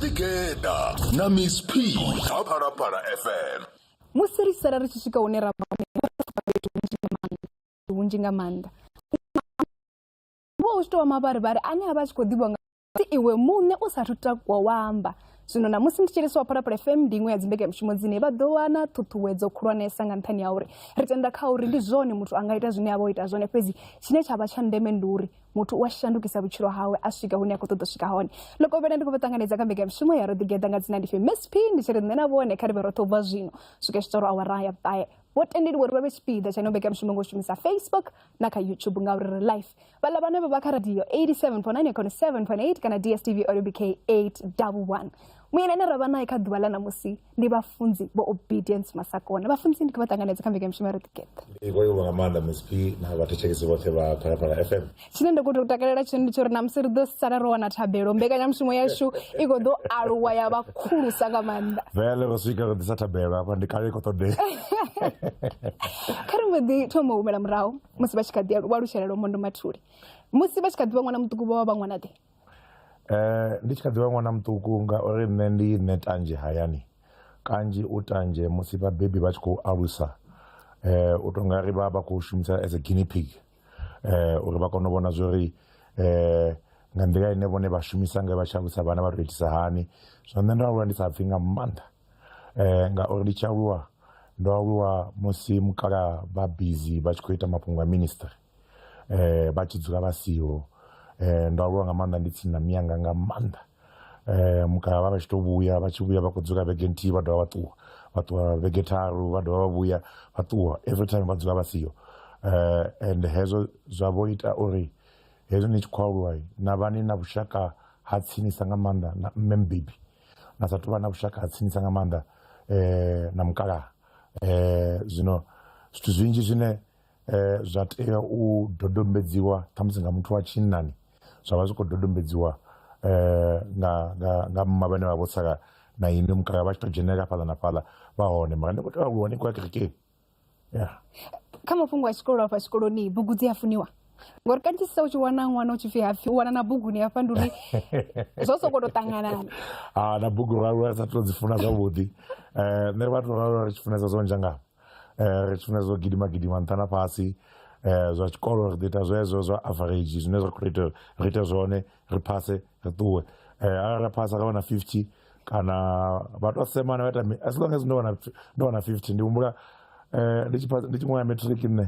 Ḓi geḓa na Miss P kha Phalaphala FM. Musi ri sala ri tshi swika hune ra vha hone, ri vha ro pfuka fhethu hunzhi nga maanḓa, fhethu hunzhi nga maanḓa. Hu vha hu tshi tou vha mavharivhari ane a vha a tshi khou ḓivhiwa nga musi iwe muṋe u sathu takuwa wa amba. Zwino ṋamusi ndi tshi livhiswa wa Phalaphala FM ndi iṅwe ya dzimbekanyamushumo dzine vha ḓo wana ṱhuṱhuwedzo khulwanesa nga nṱhani ha uri ri tenda kha uri ndi zwone muthu a nga ita zwine a vha o ita zwone fhedzi tshine tsha vha tsha ndeme ndi uri muthu u a shandukisa vhutshilo hawe a swika hune a khou ṱoḓa u swika hone ḽo kovhela ndi khou vha ṱanganedza kha mbekanyamushumo ya ro ḓigeḓa nga dzina ndi pfi msp ndi tshi ri nṋe na vhone kha ri vhe roṱhe u bva zwino swika tshi tsoro awara ya vhuṱahe vho tendeliwa uri vha vhe tshipiḓa tsha ino mbekanyamushumo nga u shumisa facebook na kha youtube ngauri ri life vhaḽa vhane vha vha kha radio 87.9 khone 7.8 kana dstv olympic 811 muyeni ane ra vha naye kha ḓuvha ḽa ṋamusi ndi vhafunzi vho obedience masakona vhafunzi ndi kho vha ṱanganedza kha mbekanyamushumo ro ḓigeḓa iko yo nga maanḓa msp na vhathetshelesi vhoṱhe vha phalaphala fm tshine nda khou tou takalela tshone ndi tsho uri namusi ri ḓo sala ro wana thabelo mbekanyamushumo yashu i khou ḓo aluwa ya vha khulusa nga maanḓa vele ro swika ro ḓisa thabelo hafha ndi kale i khou ṱoḓea kha ri mbo ḓi thoma u humela murahu musi vha tshi kha ḓi alu- vha lutshelelo mondo mathuli musi vha tshi kha ḓi vha ṅwana muṱuku vha vha vha ṅwana ḓe Ndi tshi kha ḓivha ṅwana muṱuku nga uri nṋe ndi nṋe tanzhe hayani kanzhi u tanzhe musi vhabebi vha tshi khou alusa u to nga ri vha vha kho shumisa as a guinea pig uri vha kone u vhona zwori nga nḓila ine vhone vha shumisa nga vha tshi alusa vhana vha to itisa hani. Zwino nṋe ndo aluwa ndi sa pfhi nga maanḓa ngauri ndi tshi aluwa ndo aluwa musi mukalaha vha bizi vha tshi kho ita mafhungo a ministry. eh, vha tshi dzula vha siho eh, ndo aluwa nga maanḓa ndi tsini na miyanga nga maanḓa eh, mukala vha vha tshi to vhuya vha tshi vhuya vha khou dzula vhege nthihi vha dovha vha ṱuwa vha ṱuwa vhege tharu vha dovha vha vhuya vha ṱuwa every time vha dzula vha siho eh, and hezwo zwa vho ita uri hezwi ni tshi khou aluwa na vha ni na vhushaka ha tsinisa nga maanḓa na mme mbebi na sa tou vha na vhushaka ha tsinisa nga maanḓa eh, na mukalaha eh, zwino zwithu zwinzhi zwine eh, zwa tea u dodombedziwa ṱhamusi nga muthu wa tshinnani zwa vha zwi khou dodombedziwa eh, nga, nga, nga mma vhane vha vho sala na ini mukala vha tshi tou dzhenelela fhaḽa na fhaḽa vha hone mara ndi khou tea aluwa ni khou ya kerekeni ya kha mafhungo a tshikolo afha tshikoloni bugu dzi a funiwa ngori kanzhisa u tshi wana ṅwana u tshi pfi hapfi u wana na buguni hafha ndi uri zwo sokou tou ṱanganana a na bugu ralula sa tou dzi funa zwavhuḓi um nṋe ri vha tou ralula ri tshi funesa zwo nzhangavho eh, ri tshifhinga zwo gidima gidima nṱha na fhasi eh, zwa tshikolo ri ḓi ita zwezwo zwa average zwine zwa khou ita ri ite zwone ri phase ri ṱuwe eh, arali ra phasa ra wana 50 kana vha tou semana vha ita as long as ndo wana ndo wana 50 ndi humbula eh, ndi tshi phasa- ndi tshi ṅwala matric nṋe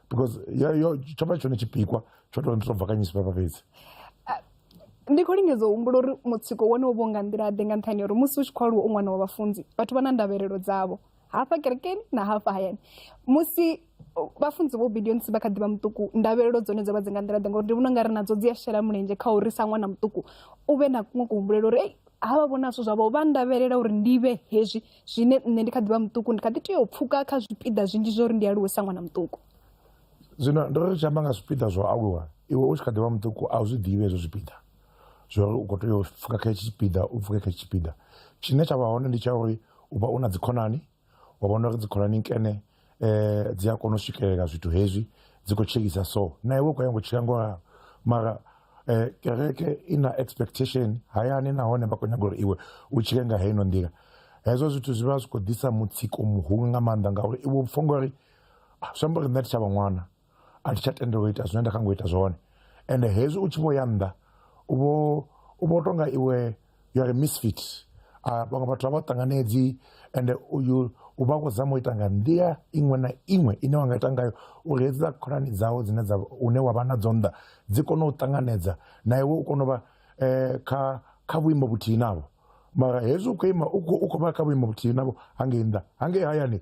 because ya- yo- tsho vha tshone tshipikwa tsho tou ndi tou bvakanyisa papa fhedzi ndi khou lingedza u humbula uri mutsiko wone wo vho nga nḓila ḓe nga nṱhani ya uri musi u tshi khou aluwa u ṅwana wa vhafunzi vhathu vha na ndavhelelo dzavho hafha kerekeni na hafha hayani musi uh, vhafunzi vho obedience vha kha ḓivha muṱuku ndavhelelo dzone dzo vha dzi nga nḓila ḓe ngauri ndi vhona u nga ri nadzo dzi a shela mulenzhe kha uri sa ṅwana muṱuku u vhe na kuṅwe kuhumbulela uri ei havha vhona zwithu zwavho vha ndavhelela uri ndi vhe hezwi zwine nṋe ndi kha ḓivha muṱuku ndi kha ḓi tea u pfuka kha zwipiḓa zwinzhi zwa uri ndi aluwe sa ṅwana muṱuku zwino ndo ri tshi amba nga zwipiḓa zwa u aluwa iwe u tshi kha ḓivha muṱuku a u zwi ḓivhi hezwo zwipiḓa zwa uri u khou tea u pfuka kha hetshi tshipiḓa u pfuke kha hetshi tshipiḓa tshine tsha vha hone ndi tsha uri u vha u na dzikhonani wa vhona uri dzikhonani nkene eh, dzi a kona u swikelela zwithu hezwi dzi khou tshilisa so na iwe u khou ya ngo tshila ngo ralo mara eh, kereke i na expectation hayani nahone vha khou nyaga uri iwe u tshile nga heino nḓila hezwo zwithu zwi vha zwi khou ḓisa mutsiko muhulu nga maanḓa ngauri iwe u pfha ngori ah, zwi amba uri nṋe thi tsha vha ṅwana a thi tsha tendelwa u ita zwine nda kha ngo ita zwone ende hezwi u tshi vho ya nnḓa u vho u vho tonga iwe you are a misfit a vhaṅwe vhathu a vha ṱanganedzi ende uyu u vha khou zama u ita nga nḓila iṅwe na iṅwe ine wa nga ita ngayo uri hedzi dza khonani dzawe dzine dza une wa vha nadzo nnḓa dzi kone u ṱanganedza na iwe u kone u vha um kha kha vhuimo vhuthihi navho mara hezwi u khou ima u khou vha kha vhuimo vhuthihi navho hangei nnḓa hangei hayani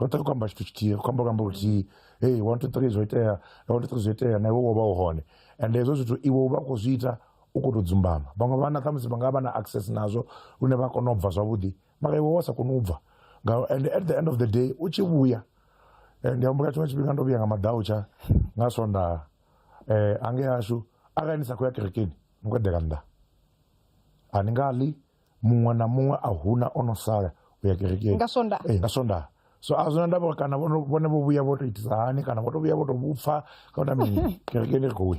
roṱhe ri khou amba tshithu tshithihi ri khou amba luambo luthihi hey one two three zwo itea one two three zwo itea na iwe wo vha u hone and hezwo zwithu iwe u vha u khou zwi ita u khou tou dzumbama vhaṅwe vhana khamusi vha nga vha na access nazwo lune vha kona u bva zwavhuḓi mara iwe wa sa koni u bva ngauri and at the end of the day u tshi vhuya eh, ndi humbula tshiṅwe tshifhinga ndo vhuya nga madautsha nga swondaha um eh, ange ashu arali ni sa khou ya kerekeni ni khou eḓela nnḓa a ni nga ḽi muṅwe na muṅwe a huna o no sala u ya kerekeni nga sonda ee nga sonda so a zwina ndavha kana vhone vho vhuya vho to itisa hani kana vho to vhuya vho to vhupfa kana mini kerekeni ri khou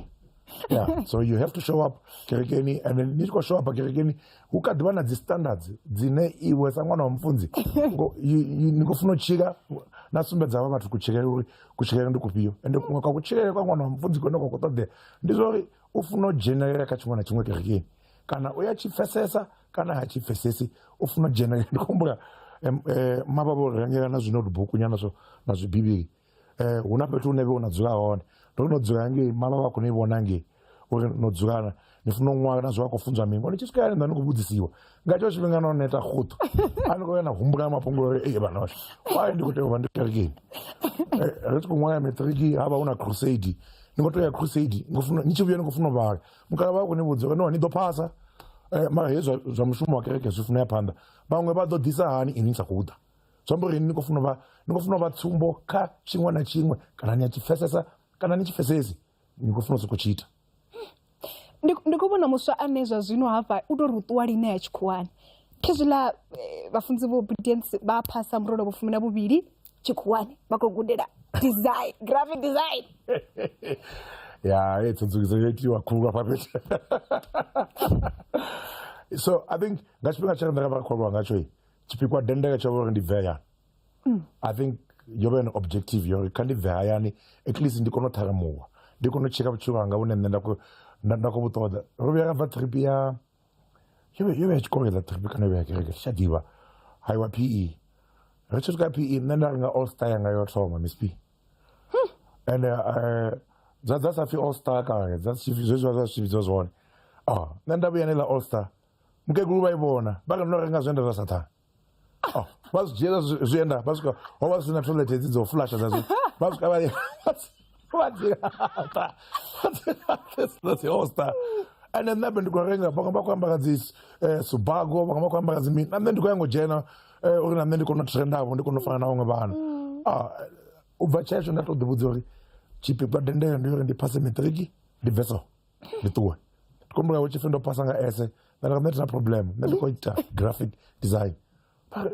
yeah so you have to show up kerekeni and then ni tshi khou show up kerekeni hu kha ḓivha na dzi standards dzine iwe sa ṅwana wa mufunzi ni khou funa u tshila na sumbedza vha vhathu kutshilele uri kutshilele ndi kufhio ende kuṅwe kwa kutshilele kwa ṅwana wa mufunzi kone kwa khou ṱoḓea ndi zwa uri u funa u dzhenelela kha tshiṅwe na tshiṅwe kerekeni kana u ya tshi pfesesa kana ha tshi pfesesi u funa u dzhenelela ndi khombula um, eh, mavha vho rengela na zwinotebook nyana zwo na zwibivhili eh, hu na fhethu hune vhe u na dzula hone ndo no dzula ngei mavha vha khona i vhona ngei uri no dzulana ni funa u ṅwala na zwi vha khou funzwa mingo ni tshi swika yani nda ni khou vhudzisiwa nga tsho tshifhinga no neta khuṱu a ni khou ya na humbula mafhungo uri ee vhana vashu why ndi khou tea u vha ndi kerekeni Eh, ri tshi khou ṅwala matriki ha vha hu na crusade ni khou tea u ya crusade ni khou funa- ni tshi vhuya ni khou funa u vhala mukala vha khou ni vhudza no ni ḓo phasa eh, mara hezwi zwa mushumo wa kereke zwi funa ya phanḓa vhaṅwe vha ḓo ḓisa hani ini ni sa khou ḓa zwi amba uri ni khou funa vha ni khou funa vha tsumbo kha tshiṅwe na tshiṅwe kana ni a tshi pfesesa kana ni tshi pfesesi ni khou funa u sokou tshi ita ndi khou vhona muswa ane zwa zwino hafha u tou ri u ṱuwa line ya tshikhuwani khezwiḽa eh, vhafunzi vha obedience vha phasa murolo vhufumi na vhuvhili chikhuwani makogundira design graphic design ya hey, tsonzukisa yeti wakhulwa papeti so i think nga tshifhinga tshaka ndaka vhakhwalwa ngatsho i tshipikwa dendeka tsha uri ndi bve hayani i think yo vha yone objective yori kha ndi bve hayani at least ndi kone u ṱharamuwa ndi kone u tsheka vhutshilo hanga vhune nṋe nda khou- nda- nda khou vhu ṱoḓa ro vhuya ra bva trip ya You vhe yo vha i tshi kovhela trip kana yo vha ya kereke thi tsha ḓivha haiwa p e ri tshi swika p e nṋe nda renga all star yanga yo thoma miss p and eh, dza dza sa pfi all star kale dza si- zwezwiwa zwa zwithu vhidzwa zwone a nṋe nda vhuya nela all star mukegulu vha i vhona vha kha ndo renga zwe nda zwa sathana Oh, vha zwi dzhiela zwi- zwienda vha swika ho vha zwi na toilet hedzi dzo flasha dza zwi vha swika vha vha dzi laṱa. Vha dzi laṱa, dza dzi hosta ende nṋe be ndi khou renga vhaṅwe vha khou ambara dzi eh, subago vhaṅwe vha khou ambara dzi mini na nṋe ndi khou ya ngo dzhena eh, uri na nṋe ndi kone u trendavho ndi kone u fana na vhaṅwe vhana Ah, u bva tshetsho nda to ḓi vhudza uri tshipikwa dendele ndi uri ndi phase matric ndi bve so ndi ṱuwe kombula hu tshipfi ndo phasa nga ese nda nda tina problem nṋe ndi khou ita graphic design ah,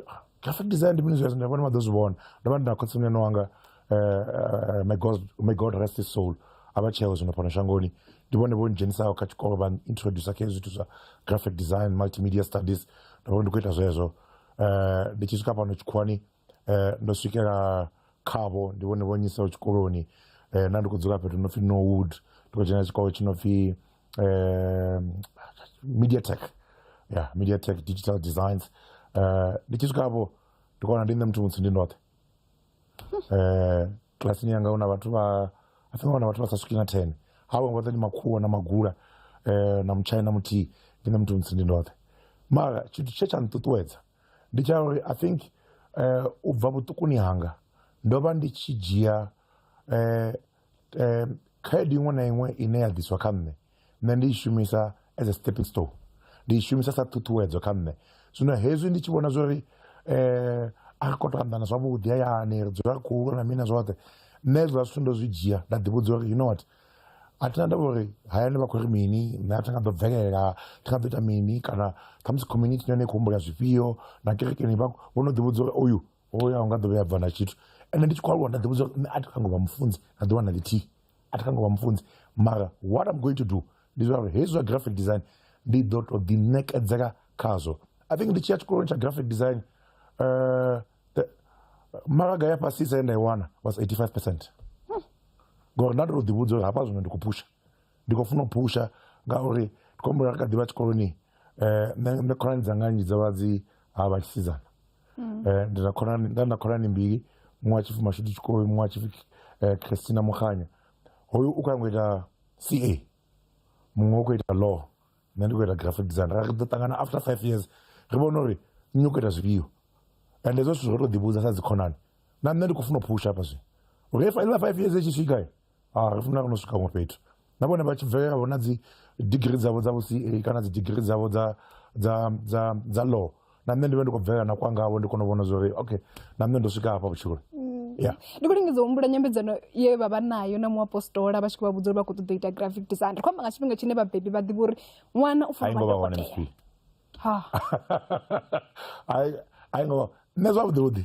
graphic design ndi mini zwezwo ndi vhone vha ḓo zwi vhona ndo vha ndi na khotsimuyani wanga eh, eh, my god my god rest his soul a vha tsheo zwino fhano shangoni ndi vhone vho ndzhenisaho kha tshikolo vha introducer kha zwithu zwa graphic design multimedia studies ndo vha ndi khou ita zwezwo um ndi tshi swika fhano tshikhuwani eh, ndo swikela khavho ndi vhone vho nyisaho tshikoloni eh, na ndi khou dzula fhethu no pfi norwood ndi khou dzhena tshikolo tshi no pfi eh, mediatech ya yeah, mediatech digital designs eh, ndi tshi swika hafho ndi kona ndi nṋe muthu mutsi ndi ndoṱhe eh, klasini yanga una vhathu vha i think una vhathu vha sa swiki na ten havho vhoṱhe ndi makhuwa na magula eh, na mutshai na muthihi ndi nṋe muthu mutsi ndi ndoṱhe mara tshithu tshe tsha nṱuṱuwedza ndi tsha uri i think um u bva vhuṱukuni hanga ndo vha ndi tshi dzhia um um khaedu iṅwe na iṅwe ine ya ḓiswa kha nṋe nṋe ndi i shumisa as a stepping stone ndi i shumisa sa ṱhuṱhuwedzo kha nṋe zwino hezwi ndi tshi vhona zwa uri um a ri khou tou anḓana zwavhuḓi hayani ri dzula ri khou lwa na mini na zwoṱhe nṋe hezwiḽa zwithu ndo zwi dzhia nda ḓi vhudza uri you know what. a thina ndavha uri hayani vha khou ri mini nṋe a thi nga ḓo bvelela thi nga ḓo ita mini kana khamusi community yone i kho humbula zwifhio na kerekeni vha vho no ḓi vhudza uri oyu hoyu a unga ḓo vhuya a bva na tshithu ende ndi tshi khou aluwa nda ḓi vhudza uri nṋe a thi kho nyaga u vha mufunzi na ḓuvha na ḽithihi a thi kho nyaga u vha mufunzi mara what am going to do ndi zwa uri hezwi zwa graphic design ndi ḓo to ḓi ṋekedzela khazwo i think ndi tshiya tshikoloni tsha graphic design maraga ya fhasisa ye nda i wana was 85 percent hmm. ngori nda ndi to ḓivhudza uri hafha zwino ndi khou phusha ndi khou funa u phusha ngauri ndi khou humbula ri kha ḓivha tshikoloni eh, um nṋe khonani dzanga nnzhi dza vha dzi ha vha tshisidzana hmm. eh, ndi na khonani nda na khonani mbili muṅwe wa tshipfi mashudu tshikoi muṅwe wa tshipfi eh, christina mukhanya hoyu u khou yango ita ca muṅwe u khou ita law nṋe ndi khou ita graphic design ra ri ḓo ṱangana after five years ri vhone uri nṋe u khou ita zwifhio and hezwo zwithu zwo to ḓi vhudza sa dzikhonani na nṋe ndi khou funa u phusha hafha zwino uri iḽa five years itshi swika a ri funa ri no swika huṅwe fhethu na vhone vha tshi bvelela vho na dzi digiri dzavho dza vho ca kana dzi digiri dzavho dza dza dza dza law na nṋe ndi vhe ndi khou bvelela na kwanga havho ndi kone u vhona zwori okay na nṋe ndo swika hafha vhutshiloni ya ndi khou lingedza u humbula nyambedzano ye vha vha nayo na muapostola vha tshi khou vha vhudza uri vha khou ṱoḓa u ita graphic design ri khou amba nga tshifhinga tshine vhabebi vha ḓivha uri ṅwana u a fanela ingo vha vha hone dokotela mfii ha a ingo vha nṋe zwavhuḓi vhuḓi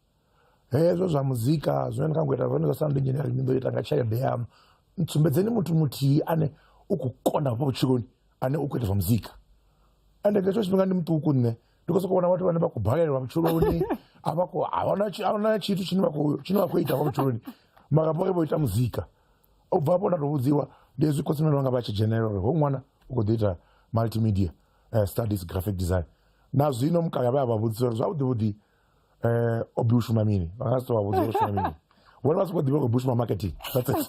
hezwo zwa muzika zwine ndi kha ngo ita zwone zwa sound engineering ndi ḓo ita nga tshelede yaṋu ntsumbedzeni muthu muthihi ane u khou kona hafha vhutshiloni ane u khou ita zwa muzika ende nga hetsho tshifhinga ndi muṱuku nṋe ndi khou sokou vhona vhathu vhane vha khou balelwa vhutshiloni a vha khou ahuna ahuna tshithu tshine vha khou tshine vha khou ita hafha vhutshiloni mara vhori vho ita muzika u bva hafho nda tou vhudziwa ndi hezwi khotsi mene vhanga vha tshi dzhenelela uri ho ṅwana u khou ḓo ita multimedia eh, studies graphic design na zwino mukala vha ya vha vhudzisa uri zwavhuḓi vhuḓi eh o bi ushuma mini vha nga si to vha vhudza uri ushuma mini vhone vha sokou ḓivha khou bushuma marketing that's it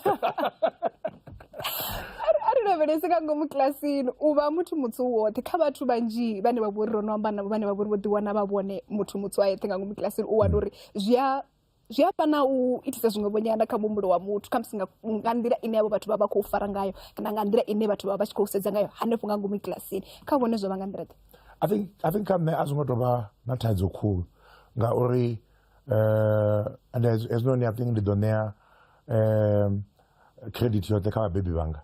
lavhelese nga ngomu kilasini u vha muthu mutsu woṱhe kha vhathu vhanzhi vhane vha vhori ro no amba navho vhane vha vhori vho ḓiwana vha vhone muthu mutsu a yeṱhe nga ngomu kilasini u wana uri zwi a zwi a fana u itisa zwiṅwe vhonyana kha muhumbulo wa muthu khamusi nga nga nḓila ine havho vhathu vha vha khou fara ngayo kana nga nḓila ine vhathu vha vha tshi khou sedza ngayo hanefho nga ngomu kilasini kha vhone zwo vha nga nḓila ḓe i think i think kha nṋe a zwi ngo tou vha na thaidzo khulu ngauri um and hezwinoni i think ndi ḓo ṋea um credit yoṱhe kha vhabebi vhanga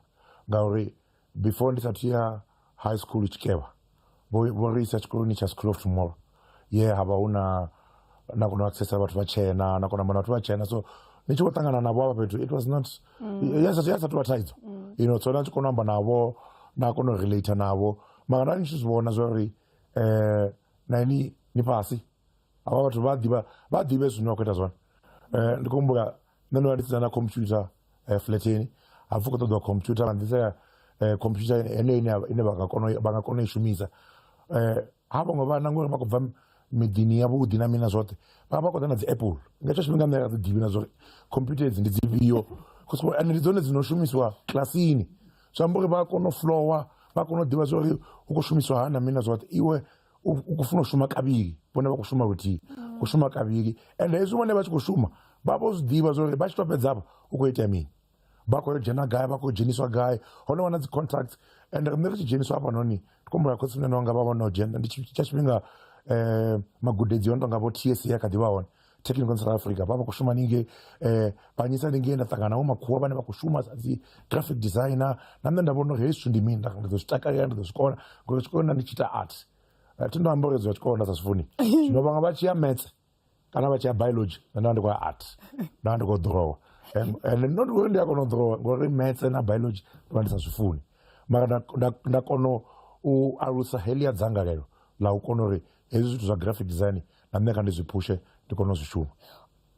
ngauri before ndi sa athu ya high school tshikevha vho vho ri isa tshikoloni tsha school of tomorrow ye ha vha hu na na kona u accessa vhathu vha tshena na kona u vhathu vha tshena so ni tshi khou ṱangana navho avha fhethu it was not mm. ya sa tou vha thaidzo mm. you know so na tshi kona u amba navho na kona u relate navho mara nda ni tshi zwi vhona zwa uri um na ini ni fhasi avha vhathu vha ḓivha vha ḓivhe zwine wa khou ita zwone um ndi khou humbula nṋe ndo vha ndi si na computer eh, flateni ha pfi u khou ṱoḓiwa computer vha nḓisela eh, computer heneyo ine ya- ine vha nga kona u- vha nga kona u i shumisa Eh, ha vhaṅwe vhana ngori vha khou bva miḓini yavhuḓi na mina zwoṱhe vha vha khou ḓa na dzi apple nga hetsho tshifhinga nṋe a dzi ḓivhi na zwori computer edzi ndi dzifhio Cause ende ndi dzone dzi no shumisiwa kilasini zwi amba uri vha a kona u flowa vha a kona u ḓivha zwori hu khou shumiswa hani na mina zwoṱhe iwe ukufuna ushuma kavili vhone vha khou shuma luthihi mm. u shuma kavili and hezwi vhone vha tshi khou shuma vha vho zwi ḓivha zwo ri vha tshi tou fhedza afho u khou itea mini vha khou yo dzhena gai vha khou dzheniswa gai hone wana dzi contracts and riṋe ri tshi dzheniswa hafha noni ndi khou mbula khotsi mune nonga vha vhona u dzhena ndi tsha tshifhinga um magudedzi ono tonga vho tsa kha ḓi vha hone technical south africa pava kushuma ninge eh, panyisa ninge ndatsangana wo makhuwa vane va ku shuma sadzi graphic designer na nṋe nda vhona uri hezwi ndi mini nda ndo zwi takalela ndo zwi kona ngori tshikolo nda ndi tshi ita art Eh, thi ndo amba uri zwa tshikolo nda sa zwi funi zwino vhaṅwe vha tshi ya metse kana vha tshi ya biology nṋe nda ndi khou ya art nda ndi khou drowa And- and not uri ndi a kona u drowa ngori metse na biology ndo vha ndi sa zwi funi mara nda- nda- nda kona u alusa helia dzangalelo la u kona uri hezwi zwithu zwa graphic design na nṋe kha ndi zwi phushe ndi kone u zwi shuma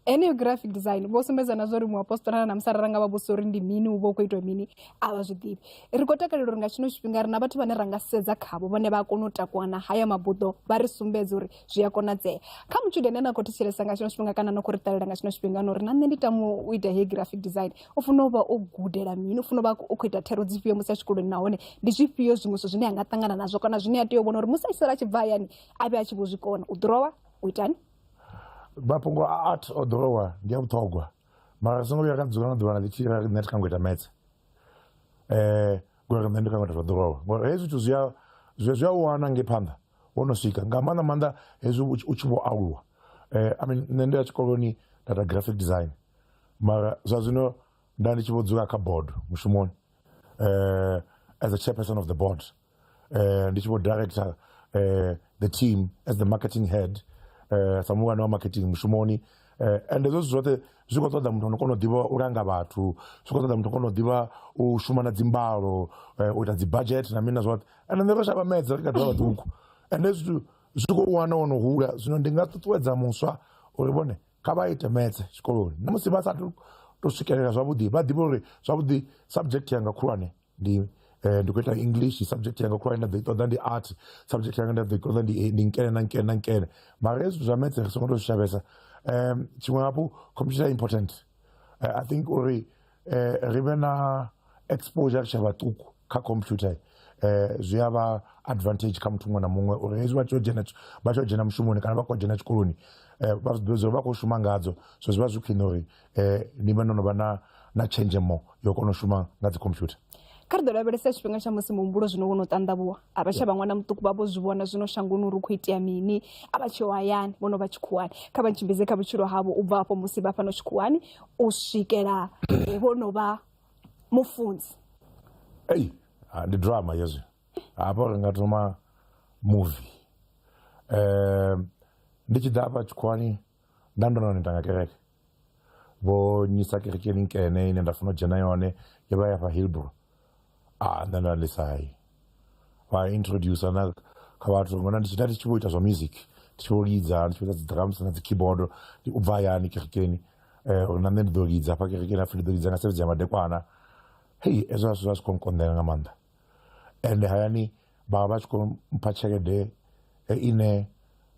heneyo graphic design vho sumbedza na zwori muapostolana na musala ra nga vha vhusa uri ndi mini u vha u khou itwa mini a vha zwi ḓivhi ri khou takalela uri nga tshino tshifhinga ri na vhathu vhane ra nga sedza khavho vhone vha a kona u takuwa na haya mabuḓo vha ri sumbedza uri zwi a konadzea kha mutshudeni ane a khou thetshelesa nga tshino tshifhinga kana no khou ri ṱalela nga tshino tshifhinga no ri na nṋe ndi tama u ita heyi graphic design u funa u vha o gudela mini u funa u vha u khou ita thero dzifhio musi a tshikoloni nahone ndi zwifhio zwiṅwe zwithu zwine a nga ṱangana nazwo kana zwine a tea u vhona uri musi a tshi sala a tshi bva hayani a vhe a tshi vho zwi kona u ḓurowa u itani mafhungo a art o ḓurowa ndi a vhuṱhogwa mara songo vhuya ra dzula na ḓuvhana ḽi tshi ra ri nṋe thi kha ngo ita metse um ngori nṋe ndi kha ngo ita zwa ḓurowa ngori hezwi zwithu zwi a zwi a u wana nge phanḓa wo no swika nga maanḓa maanḓa hezwi u tshi vho aluwa um i mean nṋe ndi ya tshikoloni nda ita graphic design mara zwa zwino nda ndi tshi vho dzula kha board mushumoni uh, as a chairperson of the board uh, ndi tshi vho director uh, the team as the marketing head uh, sa muhulwane wa marketing mushumoni uh, and hezwo zwithu zwoṱhe zwi khou ṱoḓa muthu ono kona u ḓivha u langa vhathu zwi khou ṱoḓa muthu kona u ḓivha u shuma na dzimbalo uh, u ita dzi budget na mini na zwoṱhe and nṋe ro shavha medza ri kha ḓuvha vhaṱuku and hezwi zwithu zwi khou wana wo no hula zwino ndi nga ṱuṱuwedza muswa uri vhone kha vha ite maths tshikoloni na musi vha sathu to swikelela zwavhuḓi vha ḓivhe uri zwavhuḓi subject yanga khulwane ndi eh, ndi khou ita english subject yanga khulwane nda ḓo i ṱoḓa ndi art subject yanga nda ḓo i ṱoḓa ndi ndi nkene na nkene na nkene mara hezwi zwa maths ri songo to zwi shavhesa um tshiṅwe hafhu computer important Eh, i think uri eh, ri vhe na exposure ri tshe vhaṱuku kha computer eh, zwi a vha advantage kha muthu muṅwe na muṅwe uri hezwi vha tshi dzhena vha tshi dzhena mushumoni kana vha khou dzhena tshikoloni eh, vha zwi ḓivha uri vha khou shuma ngadzo so zwi vha zwi khwine uri eh, ni vhe no no vha na na tshenzhemo yo kona u shuma nga dzi computer kha ri ḓo lavhelesa tshifhinga tsha musi muhumbulo zwino wo no ṱanḓavhuwa a vha tsha vha ṅwana muṱuku vha vho zwi vhona zwino shangoni uri u khou itea mini a vha tsheo hayani vho no vha tshikhuwani kha vha tshimbidze kha vhutshilo havho u bva afho musi vha fhano tshikhuwani u swikela eh, vho no vha mufunzi ei ah, ndi drama hezwi hafha ri nga thoma movie um ndi tshi ḓa hafha tshikhuwani nda ndo no neta nga kereke vho nyisa kereke minkene ine nda funa u dzhena yone yo vha ya fha hillbro a ah, nṋe nda lisai vha introduce na kha vhathu ngona ndi tshita ndi tshi vho ita zwa music ndi tshi vho lidza ndi tshi vho ita dzi drums na dzi keyboard ndi u bva hayani kerekeni eh, uri na nṋe ndi ḓo lidza hafha kerekeni hapfi ndi ḓo lidza nga sevhedzi ya madekwana hei ezwo zwithu zwa zwi khou nkonḓela nga maanḓa ende hayani vha vha tshi khou mpha tshelede eh, ine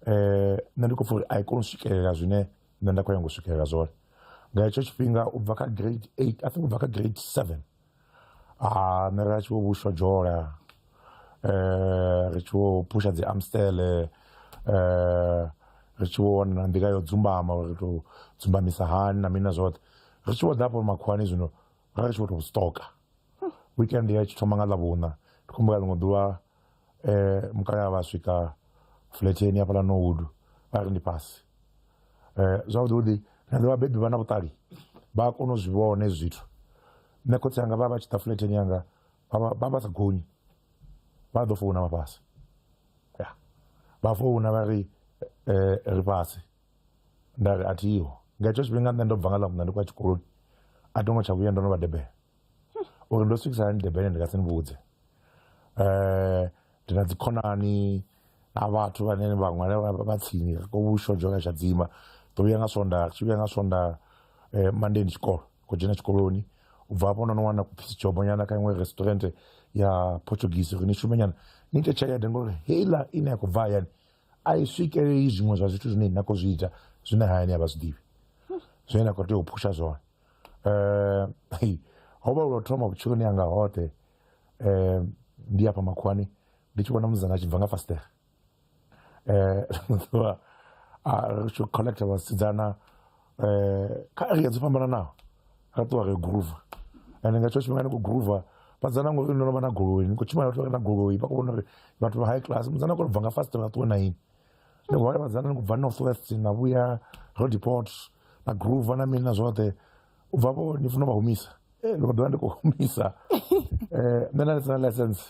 um nṋe ndi khou pfa uri a i koni u swikelela zwine nṋe nda khou nyanga u swikelela zwone nga hetsho tshifhinga u bva kha grade eight i think u bva kha grade seven a nṋe ra tshi vho vhushwa dzhola um ri tshi vho phusha dzi amstele um ri tshi vho wana na nḓila yo dzumbama uri ri tou dzumbamisa hani na mini na zwoṱhe ri tshi vho ḓa hafho makhuwani zwino ra ri tshi vho tou stoka weekend ya tshi thoma nga ḽavhuṋa ndi khou humbula ḽiṅwe ḓuvha um mukalaha vha swika fletsheni hafhaḽa nowood vha ri ndi fhasi um zwavhuḓi na ḓo vhabebi vha na vhuṱali vha kona u zwi vhone zwithu nṋe khotsi anga vha vha tshi ḓa fletsheni yanga vha vha sa gonyi vha ḓo founa vha fhasi ya vha founa vha ri um ri fhasi nda ri a thiho nga hetsho tshifhinga nṋe ndo bva nga ḽa muṋa ndi khou ya tshikoloni a tongo tsha vhuya ndo no vha debela uri ndo swikisa hani durban ndi nga si ni vhudze um ndi na dzikhonani na vhathu vhane vhaṅwe vha tsini ko vhushodzho kha tshadzima ḓo vhuya nga swonda tshi vhuya nga swonda um monday ndi tshikolo khou dzhena tshikoloni u bva hafho no no wana kuphisi jobo nyana kha iṅwe restaurant ya portuguese uri ni shume nyana ni ite tshelede ngori heiḽa ine ya khou bva hayani a i swikeleli zwiṅwe zwa zwithu zwine na khou zwi ita zwine hayani a vha zwi ḓivhi zwine na khou tea u phusha zwone Eh, hei, ho vha lwa thoma vhutshiloni hanga hoṱhe eh, ndi afha makhuwani ndi tshi vhona muzanga a tshi bva nga fastere eh, ḓuvha a ri tshi connecta vhasidzana eh, kha area dzo fhambananaho ra ṱuwa ri groove and nga tsho tshifhinga ni khou groove vhadzana ngori ndo no vha na goloi ni khou tshimbila vhathu vha re na goloi vha khou vhona uri vhathu vha high class muzana a khou bva nga fastere a ṱuwe na ini ndo vha vhadzana ni khou bva north west na vhuya rodeport na groove na mini na zwoṱhe u bva vho ni funa vha humisa eh, ndi khou ḓovha ndi khou humisa eh, nṋe na lisina license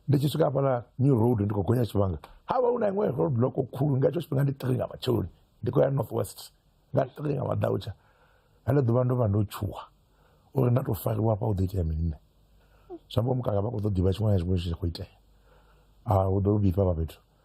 ndi tshi swika hafhala new road ndi khou gonya tshivhanga ha vha hu na iṅwe road block khulu nga hetsho tshifhinga ndi three nga matsheloni ndi khou ya north west nga three nga madautsha hele ḓuvha ndo vha ndo tshuwa uri nda tou fariwa hafha u ḓo itea mini nṋe zwi amba mukaka vha khou ḓo ḓivha tshiṅwe na tshiṅwe tshi khou itea a hu ḓo vhifha vha fhethu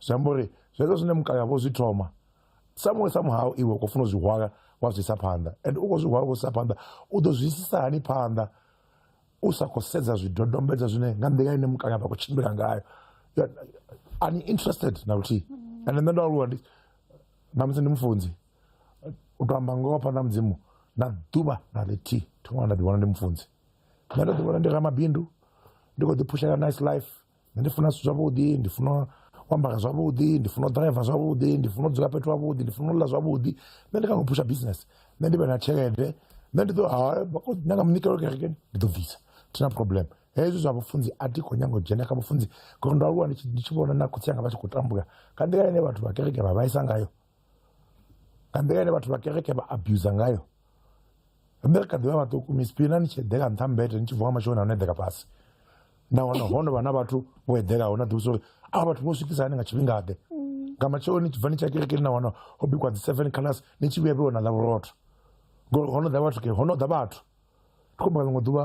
zwi amba uri zwezwo zwine mukale avho zwi thoma samuwe samuhau iwe u khou funa u zwi hwala wa zwi isa phanḓa and u khou zwi hwala u khou zwi isa phanḓa u ḓo zwi isisa hani phanḓa u sa khou sedza zwidodombedzwa zwine nga nḓila ine mukale avha khou tshimbila ngayo ani interested na luthihi and nṋe ndo aluwa ndi na musi ndi mufunzi u to amba ngoho phanḓa mudzimu na ḓuvha na ḽithihi thi ṅwana nda ḓi vhona ndi mufunzi nṋe ndo ḓi vhona ndi ramabindu ndi khou ḓi phushela nice life nṋe ndi funa zwithu zwavhuḓi ndi funa u ambara zwavhuḓi ndi funa u ḓiraiva zwavhuḓi ndi funa u dzula fhethu havhuḓi ndi funa u ḽa zwavhuḓi nṋe ndi kona u phusha business nṋe ndi vhe na tshelede nṋe ndi ḓo nyanga munikelo kerekeni ndi ḓo bvisa thina problem hezwi zwa vhufunzi a thi khou nyanga u dzhena kha vhufunzi ngori ndo aluwa ndi tshi vhona na khotsi anga vha tshi khou tambula nga nḓila ine vhathu vha kereke vha vhaisa ngayo nga nḓila ine vhathu vha kereke vha abusa ngayo riṋe ri kha ḓivha vhaṱuku misipina ni tshi eḓela nṱha mbete ni tshi vuwa mashooni ano eḓela fhasi nahone ho no vha na vhathu vho eḓelaho na ḓivhusa uri a vhathu vho swikisa hani nga tshifhingaḓe nga matsheloni ni tshi bva ni tshi ya kerekeni na wana ho bikwa dzi seven class ni tshi vhuya vhe wana ḽa vhurotho ngori ho no ḓa vhathu ke ho no ḓa vhathu ndi khomba ḽiṅwe ḓuvha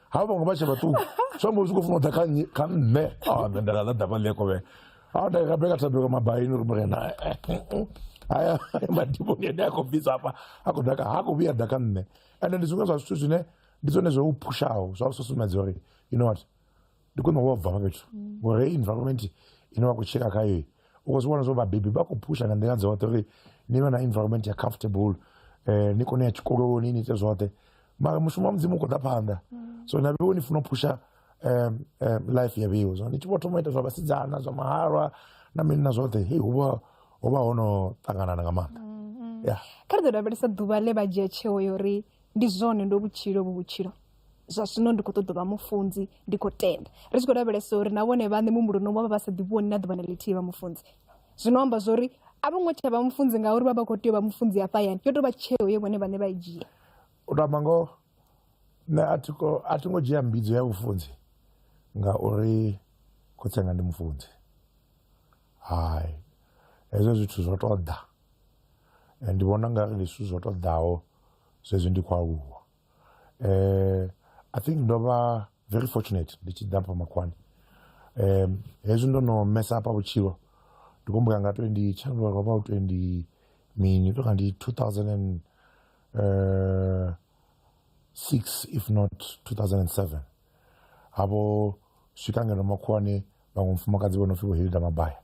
ha vhaṅwe vha tshe vhaṱuku zwi amba u tshi khou funa u ḓa kha nnyi kha nṋe a nṋe nda nga ḓa ḓa vhaḽi khovhe a nda nga beka thabelo mabaini uri murena haya madimoni ane a khou bvisa hafha a khou daka ha khou vhuya ḓa kha nṋe ende ndi zwiṅwe zwa zwithu zwine ndi zwone zwo u phushaho zwa u susumbedza uri you know what ndi khwine wo bva hafha fhethu ngori hei environment ine wa khou tsheka khayo u zwi vhona zwo vhabebi vha khou phusha nga nḓila dzoṱhe uri ni vhe na environment ya comfortable um ni kone ya tshikoloni ni ite zwoṱhe mara mushumo wa mudzimu u khou ḓa phanḓa mm. so na vheo ni funa u phusha um um life ya vheo zwo ni tshi vho thoma ita zwa vhasidzana zwa mahalwa na mini na zwoṱhe hei hu vha ho vha ho no ṱanganana nga maanḓa mm-hmm. ya kha ri ḓo lavhelesa ḓuvha ḽe vha dzhia tsheo ya uri ndi zwone ndo vhutshilo vhu vhutshilo zwa zwino ndi khou ṱoḓa vha mufunzi ndi khou tenda ri tshi khou lavhelesa uri na vhone vhaṋe muhumbuloni vha vha vha sa ḓivhoni na ḓuvha na ḽithihi vha mufunzi zwino amba zwori a vho ngo tsha vha mufunzi ngauri vha vha khou tea u vha mufunzi ya fhayani yo tou vha tsheo ye vhone vhaṋe vha i dzhia u tou amba ngoho nṋe a thi a thi ngo dzhia mbidzo ya vhufunzi ngauri khotsenga ndi mufunzi hai hezwo zwithu zwo tou ḓa ndi vhona nga ri ndi zwithu zwo tou ḓaho zwezwi ndi khou aluwa eh, i think ndo vha very fortunate ndi tshi ḓa pa makhwani um hezwi ndo no mesa apa vhutshilo ndi kumbuka nga 20 tshanduka lwa vha 20 mini to kanti 2006 uh, if not 2007 avo swika ngeno makhuwani vhaṅwe mufumakadzi vho no pfhi vho hilda mabaya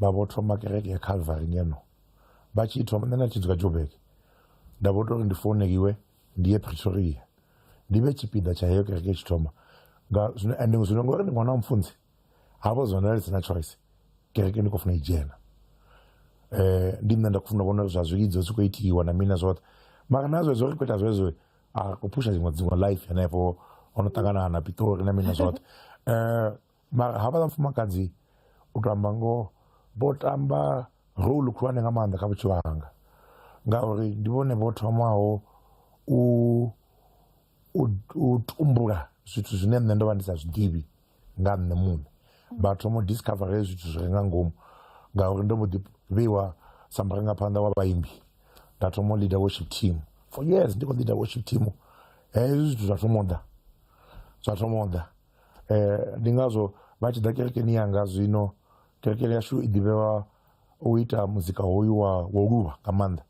vha vho thoma kereke ya calvary ngeno vha tshi thoma nṋe na tshi dzula jobek nda vho tori ndi founeliwe ndi ye pretoria ndi vhe tshipiḓa tsha heyo kereke tshi thoma nga zwino and zwino ngori ndi ṅwana wa mfunzi havho zwone ri sina choice kereke ndi khou funa i dzhena um ndi nṋe nda khou funa vhona zwa zwilidzo zwi khou itiwa na mini na zwoṱhe mara na zwezwo ri khou ita zwezwo a ko pusa zingwa zingwa life yane po ono takana na pito na mina zot eh ma haba da fuma kanzi utamba ngo botamba role khulwane nga maanḓa kha vhutshilo hanga ngauri ndi vhone vho thomaho u u tumbula zwithu zwine nṋe ndo vha ndi sa zwiḓivhi nga nṋe muṋe vha thoma u discovera hezwi zwithu zwi re nga ngomu ngauri ndo mbo ḓi vheiwa sa murangaphanḓa wa vhaimbi nda thoma u leader worship team for years ndi khou leader worship team hezwi zwithu zwa thoma u ḓa zwa thoma u ḓa um ndi ngazwo vha tshi ḓa kerekeni yanga zwino kerekeni yashu i ḓivhewa u ita muzika hoyu wa wo luvha nga maanḓa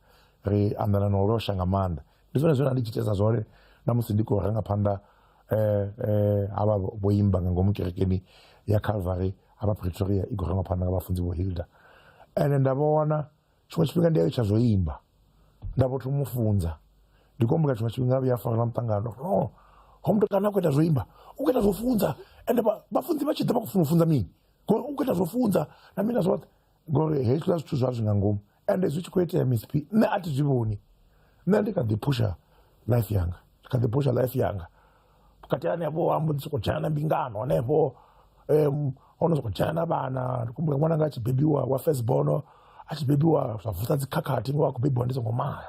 ri anḓana na u losha nga maanḓa ndi zwone zwine ndi tshi tshesa zwone na musi ndi khou renga phanḓa eh eh havha vho imba nga ngomu kerekeni ya Calvary havha Pretoria i khou renga phanḓa nga vhafunzi vho Hilda ende nda vha wana tshiṅwe tshifhinga ndi a tsha zwo imba nda vho thoma u funza ndi khou humbula tshiṅwe tshifhinga vhuya fara na muṱangano no ho mutukana a khou ita zwo imba u khou ita zwo funza ende vhafunzi vha tshi ḓa vha khou funa u funza mini ngori u khou ita zwo funza na mina zwoṱhe ngori hezwiḽa zwithu zwa zwi nga ngomu ende zwi tshi khou itea msp nṋe a thi zwi vhoni nṋe ndi kha ḓi phusha life yanga ndi kha ḓi phusha life yanga vhukati hanefho ambo ndi sokou dzhena na mbingano hanefho um ho no sokou dzhena na vhana ndi kumbula ṅwananga a tshi bebiwa wa first bono a tshi bebiwa zwa vusa dzikhakhathi ngo a khou bebiwa ndi songo mala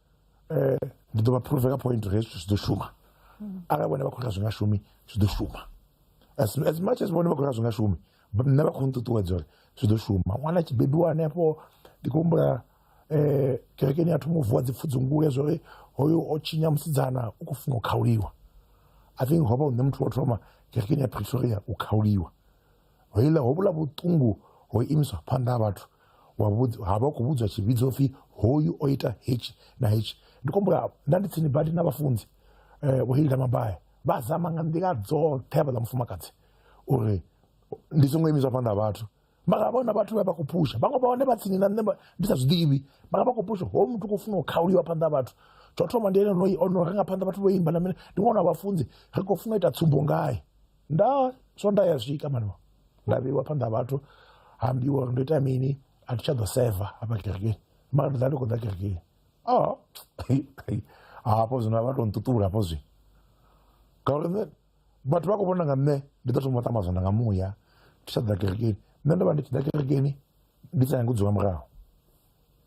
um ndi ḓo vha phuruve nga point uri hezwi zwithu zwi ḓo shuma arali vhone vha khou ri zwi nga shumi zwi ḓo shuma as, as much as vhone vha khou ri zwi nga shumi nṋe vha khou nṱuṱuwedza uri zwi ḓo shuma ṅwana a tshi bebiwa hanefho ndi khou humbula um kerekeni a thoma u vuwa dzipfudzungule zwa uri hoyo o tshinya musidzana u khou funa u khauliwa i think ho vha u nṋe muthu wa thoma kerekeni ya pretoria u khauliwa ho iḽa ho vhula vhuṱungu ho imiswa phanḓa ha vhathu ha vha khou vhudzwa tshivhidzo pfhi hoyu o ita hetshi na hetshi ndi khombula nda ndi tsini badi na vhafunzi eh, vho hilda mabaya vha zama nga nḓila dzoṱhe havhaḽa mufumakadzi uri ndi songo imiswa phanḓa ha vhathu mara vhona vhathu vha vha khou phusha vhaṅwe vha hone vha tsini na nṋe ndi sa zwiḓivhi mara vha khou phusha ho muthu khou funa u khauliwa phanḓa ha vhathu tsho thoma ndi ene ono renga phanḓa vhathu vho imba na mine ndi ṅwana wa vhafunzi ri khou funa u ita tsumbo ngae nda so nda ya swika mani nda vheiwa phanḓa ha vhathu ha ambiwa uri ndo ita mini a thi tsha ḓo seva hafha kerekeni mara ndi ḓa ndi khou ḓa kerekeni a hafho zwino a vha to nṱuṱula hafho zwi ngauri nṋe vhathu vha khou vhona nga nṋe ndi ḓo thoma ṱamba zwanḓa nga muya ndi tsha ḓa kerekeni nṋe ndo vha ndi tshi ḓa kerekeni ndi sa nyagi u dzula murahu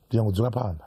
ndi nyanga u dzula phanḓa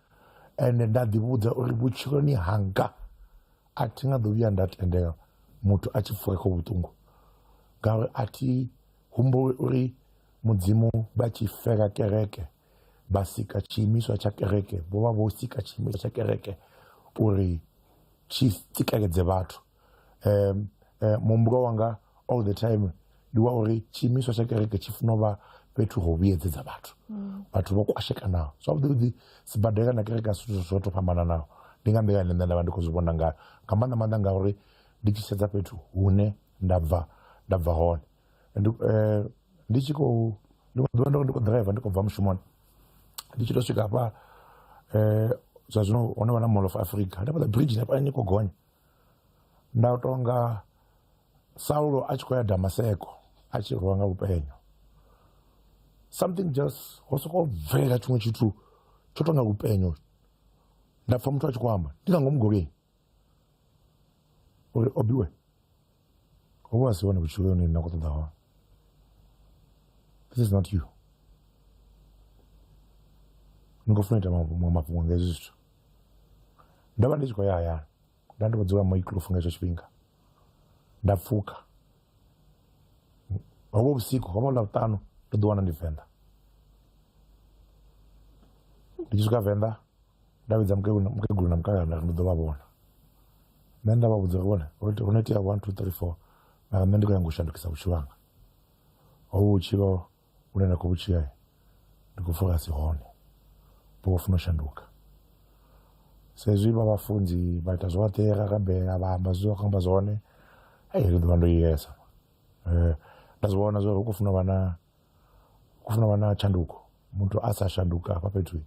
ende nda ḓivhudza uri vhutshiloni hanga a thi nga ḓo vhuya nda tendela muthu a tshi pfuka kha vhuṱungu ngauri a thi humbuli uri mudzimu vha tshi fela kereke vha sika tshiimiswa tsha kereke vho vha vho sika tshiimiswa tsha kereke uri tshi tsikeledzee vhathu. um, um, muhumbulo wanga all the time ndi wa uri tshiimiswa tsha kereke tshi funa u vha fhethu ho vhuyedzedza vhathu mm. vhathu vho kwashekanaho zwavhuḓivhuḓi sibadela na kereke asi zwithu zwo to fhambananaho ndi nga nḓila ine nṋe nda vha ndi khou zwi vhona nga nga maanḓa maanḓa ngauri ndi tshi sedza fhethu hune nda bva nda bva hone ndi eh, ndi tshi khou ndi khou ḓivha ndi khou driver ndi khou bva mushumoni ndi tshi to swika hafha um zwa zwino hone vha na mall of africa hanefhaḽa bridge hafha ni khou gonya nda u tonga saulo a tshi khou ya damaseko a tshi rwa nga lupenyo something just ho sokou bvela tshiṅwe tshithu tsho tonga lupenyo nda pfha muthu a tshi khou amba ndi nga ngomu golweni uri obiwe hovhu a si hone vhutshilo hone na khou ṱoḓa hone this is not you ni khou funa ita maṅwe mafhungo nga hezwi zwithu ndo vha ndi tshi khou ya hayani nda ndi khou dzula moiklufu nga hetsho tshifhinga nda pfuka hovho vhusiku hovho ḽa vhuṱanu ndo ḓi wana ndi venḓa ndi tshi swika venḓa nda vhidza mukegulu na mukegulu na mukalaha nda ndo ḓo vha vhona nṋe nda vha vhudza uri vhone ho no itea one two three four mara nṋe ndi khou nyanga u shandukisa vhutshilo hanga hovhu vhutshilo vhune nda khou vhu tshila ndi khou pfha si hone vho vho funa u shanduka saizwi vha vhafunzi vha ita zwoṱhe ra rabela vha amba zwi khou amba zwone hei ri ḓovha ndo yesa um eh, nda zwi vhona zwori hu khou funa vha na kufuna vha na tshanduko muthu a sa shanduka hafha fhethu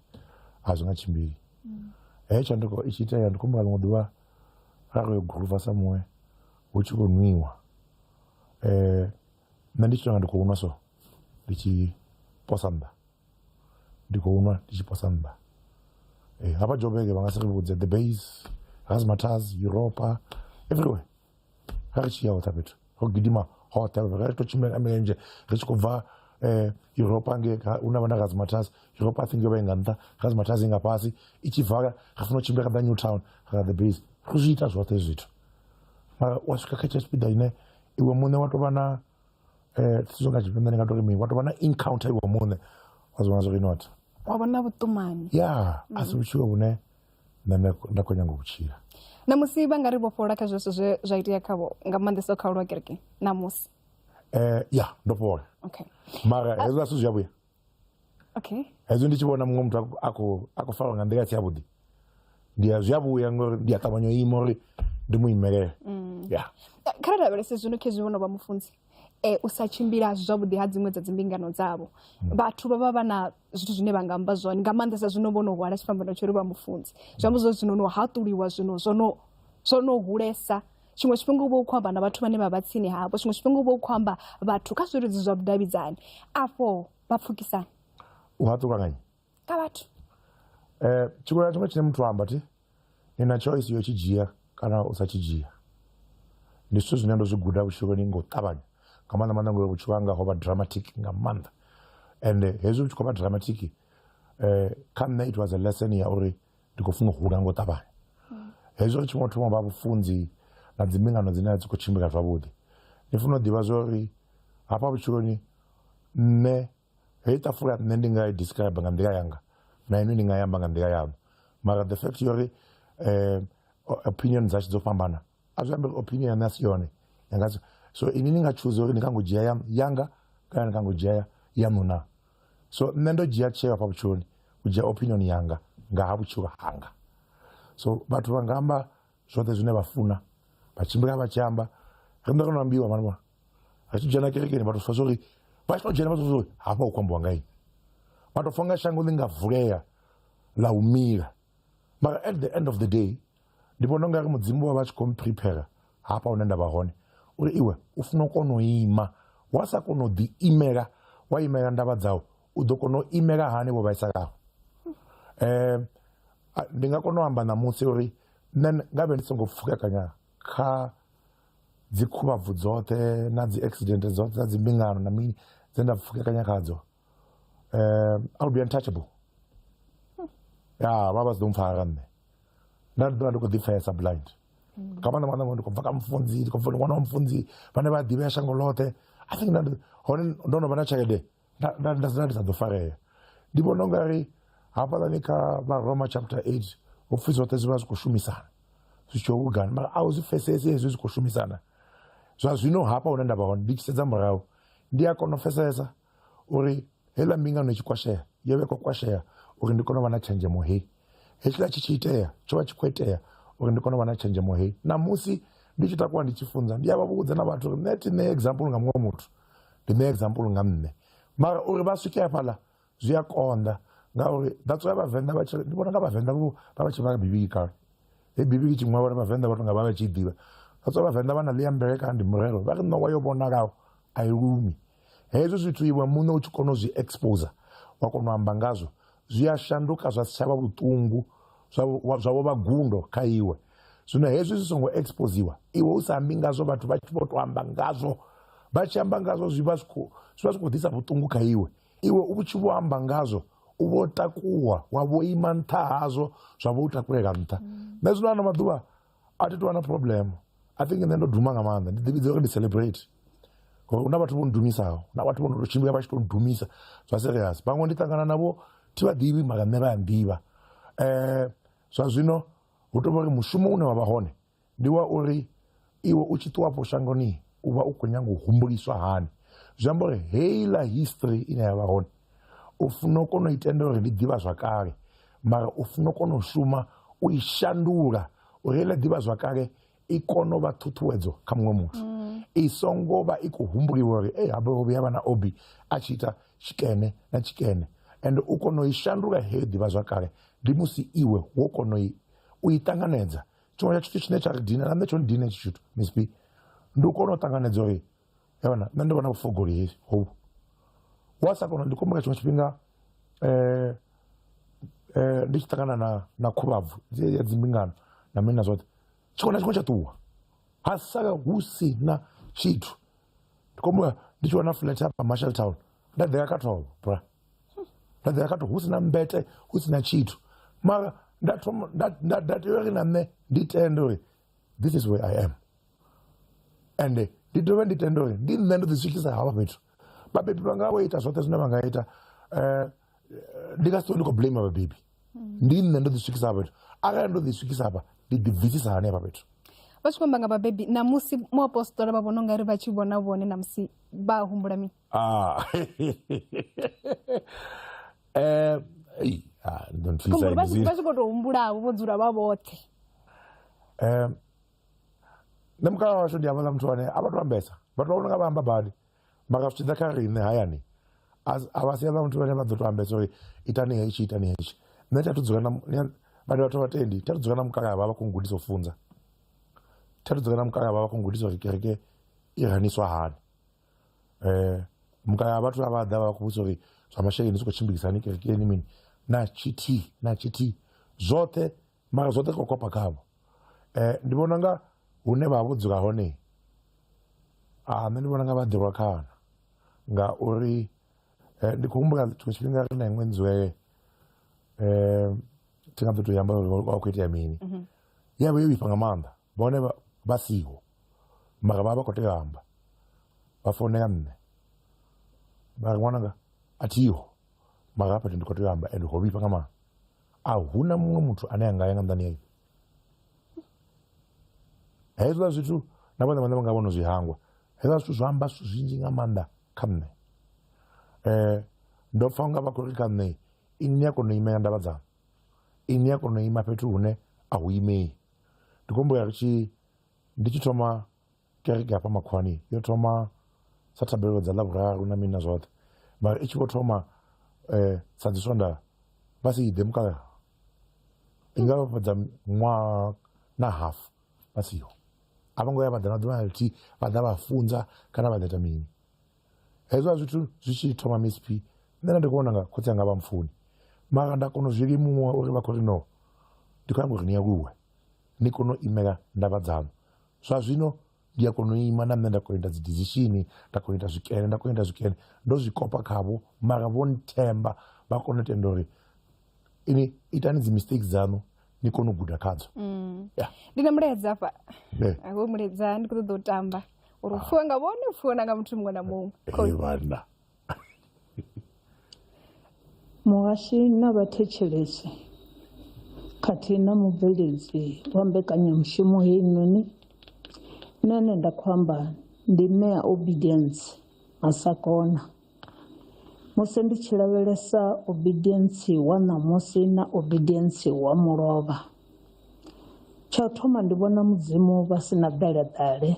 a zwi nga tshimbili mm. heyo tshanduko i tshi itea ndi khumbula ḽiṅwe ḓuvha ra kho yo guluva sa muṅwe hu tshi khou nwiwa um nṋe ndi tshi tonga ndi khou nwa so ndi tshi posa nnḓa ndi khou nwa ndi tshi posa nnḓa um hafha jobeke vha nga si ri vhudze the base razmatars europa everywhere ri tshi ya hoṱha fhethu ro gidima hoṱhe ri tshi khou tshimbila nga milenzhe ri tshi khou bva um europa nge hu na vha na razmatas europa think yo vha i nga nṱha razmatas i nga fhasi i tshi bvala ri funa u tshimbila kha ḓa new town ra the base ro zwi ita zwoṱhe hezwi zwithu mara wa swika kha tsha tshipiḓa ine iwe muṋe wa tou vha na um sizwo nga tshifhinḓa ndi nga tou ri mini wa tou vha na encounter iwe muṋe wa zwi vhona zwo ri not wa vha na vhuṱumani ya a si vhutshilo vhune na nṋe nda khou nyanga u tshila namusi vha nga ri vhofhola kha zwezwo zwe zwa itea khavho nga maanḓesa kha ulwa kereke namusi um eh, ya ndo fhola okay. mara ah. hezwo a si zwi yavhuya okay. hezwo ndi tshi vhona muṅwe muthu a khou farwa nga nḓila si yavhuḓi ndi a zwi a vhuya ngori ndi a ṱavhanya u ima uri ndi mu imelele mm. ya kha ri lavhelese zwino khezwi vhono vha mufunzi eh, u sa tshimbila zwavhuḓi ha dziṅwe dza dzimbingano dzavho hmm. vhathu vha vha vha na zwithu zwine vha nga amba zwone nga maanḓesa zwino vho no hwala tshifhambano tsho ri vha mufunzi zwi amba zwo zwino no haṱuliwa zwino zwono zwo no hulesa tshiṅwe tshifhinga u vha u khou amba na vhathu vhane vha vha tsini havho tshiṅwe tshifhinga u vha u khou amba vhathu kha zwiludzi zwa vhudavhidzani afho vha pfukisana u haṱuka ngani kha vhathu eh tshiṅwe na tshiṅwe tshine muthu a amba ti ni na choice yo tshi dzhia kana u sa tshi dzhia ndi zwithu zwine ndo zwi guda vhutshiloni nga u ṱavhanya nga maanḓa maanḓa ngori vhutshilo hanga ho vha dramatic nga maanḓa and hezwi vhu tshi khou vha dramatic eh kha nṋe it was a lesson ya uri ndi khou funa u hula nga u ṱavhanya hezwi ri tshi ngo thoma vha vhufunzi na dzimbingano dzine a dzi khou tshimbila zwavhuḓi ni funa u ḓivha zwa uri hafha vhutshiloni nṋe heyi tafula nṋe ndi nga i describe nga nḓila yanga na inwi ni nga yamba nga nḓila yanu mara the fact yori um opinion dzashu dzo fhambana a zwi ambe opinion yane a si yone yanga so ini ni nga choosa uri ni kha ngo dzhia ya yanga kana ni kha ngo dzhia yaṋu na so nṋe ndo dzhia tsheo hafha vhutshiloni u dzhia opinion yanga nga ha vhutshilo hanga so vhathu vha nga amba zwoṱhe zwine vha funa vha tshimbila vha tshi amba ri nda kana ambiwa mani vhona ri tshi dzhena kerekeni vha to fa zwori vha tshi to dzhena vha to zwori hafha u kwambiwa nga ini vha to fa nga shango ḽi nga vulea ḽa u mila mara at the end of the day ndi vhona unga ri mudzimu wa vha tshi khou mprepare hafha hune nda vha hone uri iwe u funa u kona u ima wa sa kona u ḓi imela wa imela ndavha dzau u ḓo kona u imela hani vho vhaisalaho um ndi nga kona u amba ṋamusi uri nṋe nga vhe ndi songo pfukekanya kha dzi khuvhabvu dzoṱhe na dzi accident dzoṱhe dza dzi mbingano na mini dze nda pfukekanya khadzo um i would be untouchable ya vha vha si ḓo mpfara nṋe nda ndi ḓovha ndi khou ḓipfesa blind nga maanḓa maanḓa ngori ndi khou bva kha mufunzi ndi khou bva ndi ṅwana wa mufunzi vhane vha ḓivhea shango ḽoṱhe i think nda hone ndo no vha na tshelede nda sina ndi sa ḓo farea ndi vhona unga ri hafhaḽani kha varoma chapter 8 ho pfhi zwoṱhe zwi vha zwi khou shumisana zwi tshi hugana mara a u zwi pfesesi hezwi zwi khou shumisana zwa zwino hafha hune nda vha hone ndi tshi sedza murahu ndi a kona u pfesesa uri heiḽa mbingano i tshi kwashea yo vha i khou kwashea uri ndi kone u vha na tshenzhemo hei hetshiḽa tshi tshi itea tsho vha tshi khou itea uri ndi kone u vha na tshenzhemo heyi ṋamusi ndi tshi takuwa ndi tshi funza ndi a vha vhudza na vhathu uri nṋe thi ṋee example nga muṅwe muthu ndi ṋee example nga nṋe mara uri vha swike hafhaḽa zwi a konḓa ngauri that's why vhavenḓa vha tshi ndi vhona nga vhavenḓa vho vha vha tshi vhala bivhili kale he bivhili tshi ṅwalwa uri vhavenḓa vha to nga vha vha tshi i ḓivha that's why vhavenḓa vha na ḽi ya mvelekani ndi murero vha ri ṋowa yo vhonalaho a i lumi Hezwo zwithu iwe muṋe u tshi kona u zwi exposer wa kona u amba ngazwo zwi a shanduka zwa si tsha vha vhuṱungu zwa vho vha gundo kha iwe zwino hezwi zwi songo exposiwa iwe u sa ambi ngazwo vhathu vha tshi vho to amba ngazwo vha tshi amba ngazwo zwi vha zwi khou ḓisa vhuṱungu kha iwe iwe u tshi vho amba ngazwo u vho takuwa wa vho ima nṱha hazwo zwa vho u takulela nṱha nṋe zwino ano maḓuvha a thi tovha na problem i think nṋe ndo duma nga maanḓa ndi ḓivhidza uri ndi celebrate ngori hu na vhathu vho ndumisaho na vhathu vho no to tshimbila vha tshi to ndumisa zwa serious vhaṅwe ndi ṱangana navho thi vha ḓivhi mara nṋe vha ya nḓivha um zwa zwino hu tovha uri mushumo une wa vha hone ndi wa uri iwe u tshi ṱuwafho shangoni u vha u khou nyanga u humbuliswa hani zwi amba uri heiḽa history ine ya vha hone u funa u kona u itendela uri ndi ḓivha zwakale mara u funa u kona u shuma u i shandula uri ile ḓivha zwakale i kone u vha ṱhuṱhuwedzo kha muṅwe muthu mm. i songo vha i khou humbuliwa uri e habe ho vhuya vha na obi a tshi ita tshikene na tshikene and u kona u i shandula heyo ḓivha zwakale ndi musi iwe wo kona u i ṱanganedza tshiṅwe tsha tshithu tshine tsha ri dina na nṋe tsho ni dina tshi tshithu misp ndi u kona u ṱanganedza uri yavana nṋe ndi vhona vhufogoleli hovhu wa sa kona ndi kombela tshiṅwe tshifhinga um um ndi tshi ṱangana na na khuvhabvu ya dzimbingano na mini na zwoṱhe tshiṅwe na tshiṅwe tsha ṱuwa ha sala hu si na tshithu ndi kombela ndi tshi wana flat hapa marshall town nda ḓea kha thovho bra nda ḓea kha thovho hu si na mbete hu si na tshithu mara nda thoma nda tea uri na nṋe ndi tende uri this is where i am ende ndi dovhe ndi tende uri ndi nṋe ndo ḓi swikisa hafha fhethu vhabebi vhanga vho ita zwoṱhe zwine vha nga ita um ndi nga si ṱuwe ndi khou blame vhabebi ndi nṋe ndo ḓi swikisa hafha fhethu arali ndo ḓi swikisa hafha ndi ḓi bvisisa hani hafha fhethu vha tshi khou amba nga vhabebi namusi muapostola vha vhona ungari vha tshi vhona vhone namusi vha humbula mini Ah. Eh, ei, ah, ndi ḓo ni thusa khombo vha tshi henezwi. vha tshi khou tou humbulavo vho dzula vha vhoṱhe Eh, nṋe mukalaha washu ndi havhaḽa muthu ane a vha to ambesa vhathu vha vhona nga vha amba badi mara zwi tshi ḓa kha riṋe hayani a vha si havha muthu vhane vha ḓo to ambesa uri itani hetshi itani hetshi nṋe thi athu dzula na vhane vhathu vha tendi thi athu dzula na mukalaha vha vha khou gudisa u funza thi athu dzula na mukalaha vha vha khou gudisa uri kereke i raniswa hani um mukalaha vhathu a vha ḓa vha vha khou vhudzisa uri zwa masheleni zwi khou tshimbilisahani kerekeni mini na tshithihi na tshithihi zwoṱhe mara zwoṱhe kho kopa khavho um ndi vhona nga hune vha vho dzula hone a ah, nṋe ndi vhona nga vha ḓirwa khana ngauri eh, ndi khou humbula tshiṅwe tshifhinga ri na iṅwe nzwe um thi nga ḓo to yamba vha khou itea mini mhm. ya vha yo vhifha nga maanḓa vhone vha siho mara vha vha khou tea amba vha founela nṋe vha ri ṅwananga a thiho mara hafha ndi khou tea amba and ho vhifha nga maanḓa a huna muṅwe muthu ane a nga ya nga nḓani ya hezwiḽa zwithu na vhone vhane vha nga vhono zwi hangwa hezwiḽa zwithu zwa amba zwithu zwinzhi nga maanḓa kha nṋe um ndo pfa unga vha khou ri kha nṋe ini ni a kona u imela ndavha dzanu ini ni a kona u ima fhethu hune a hu imei ndi khou humbulela ri tshi ndi tshi thoma Kereke hafha Makhwani yo thoma sa thabelo dza Ḽavhuraru na mini na zwoṱhe mara i tshi vho thoma um sa dzi swonda vha si ḓe mukalaha i nga vha fhedza ṅwaha na half vha siho a vho ngo ya vha ḓa na ḓuvha na ḽithihi vha ḓa vha funza kana vha ḓa ita mini hezwo a zwithu zwi tshi thoma msp nṋe nda ndi khou vhona nga khotsi anga vha mpfuni mara nda kona u zwi limuwa uri vha khou ri no ndi khou nyanga uri ni aluwe ni kone u imela ndavha dzaṋu zwa zwino ndi a kona u ima na nṋe nda kona u ita dzi decision nda kona u ita zwikene nda kona u ita zwikene ndo zwi kopa khavho mara vho nthemba vha kona u tenda uri ini itani dzi mistakes dzaṋu ni kone u guda khadzo mm. ndi na mulaedza afha wo mulaedza ndi kho ṱoḓa u tamba uri u pfhiwe nga vhone u pfhiwe na nga muthu muṅwe na muṅwe Muhashi na vhathetshelesi khathihi na mubveledzi wa mbekanyamushumo heinoni nṋe ane nda khou amba ndi mme a Obedience Masakona. Musi ndi tshi lavhelesa Obedience wa ṋamusi na Obedience wa mulovha tsha u thoma ndi vhona mudzimu vha si na ḓeleḓale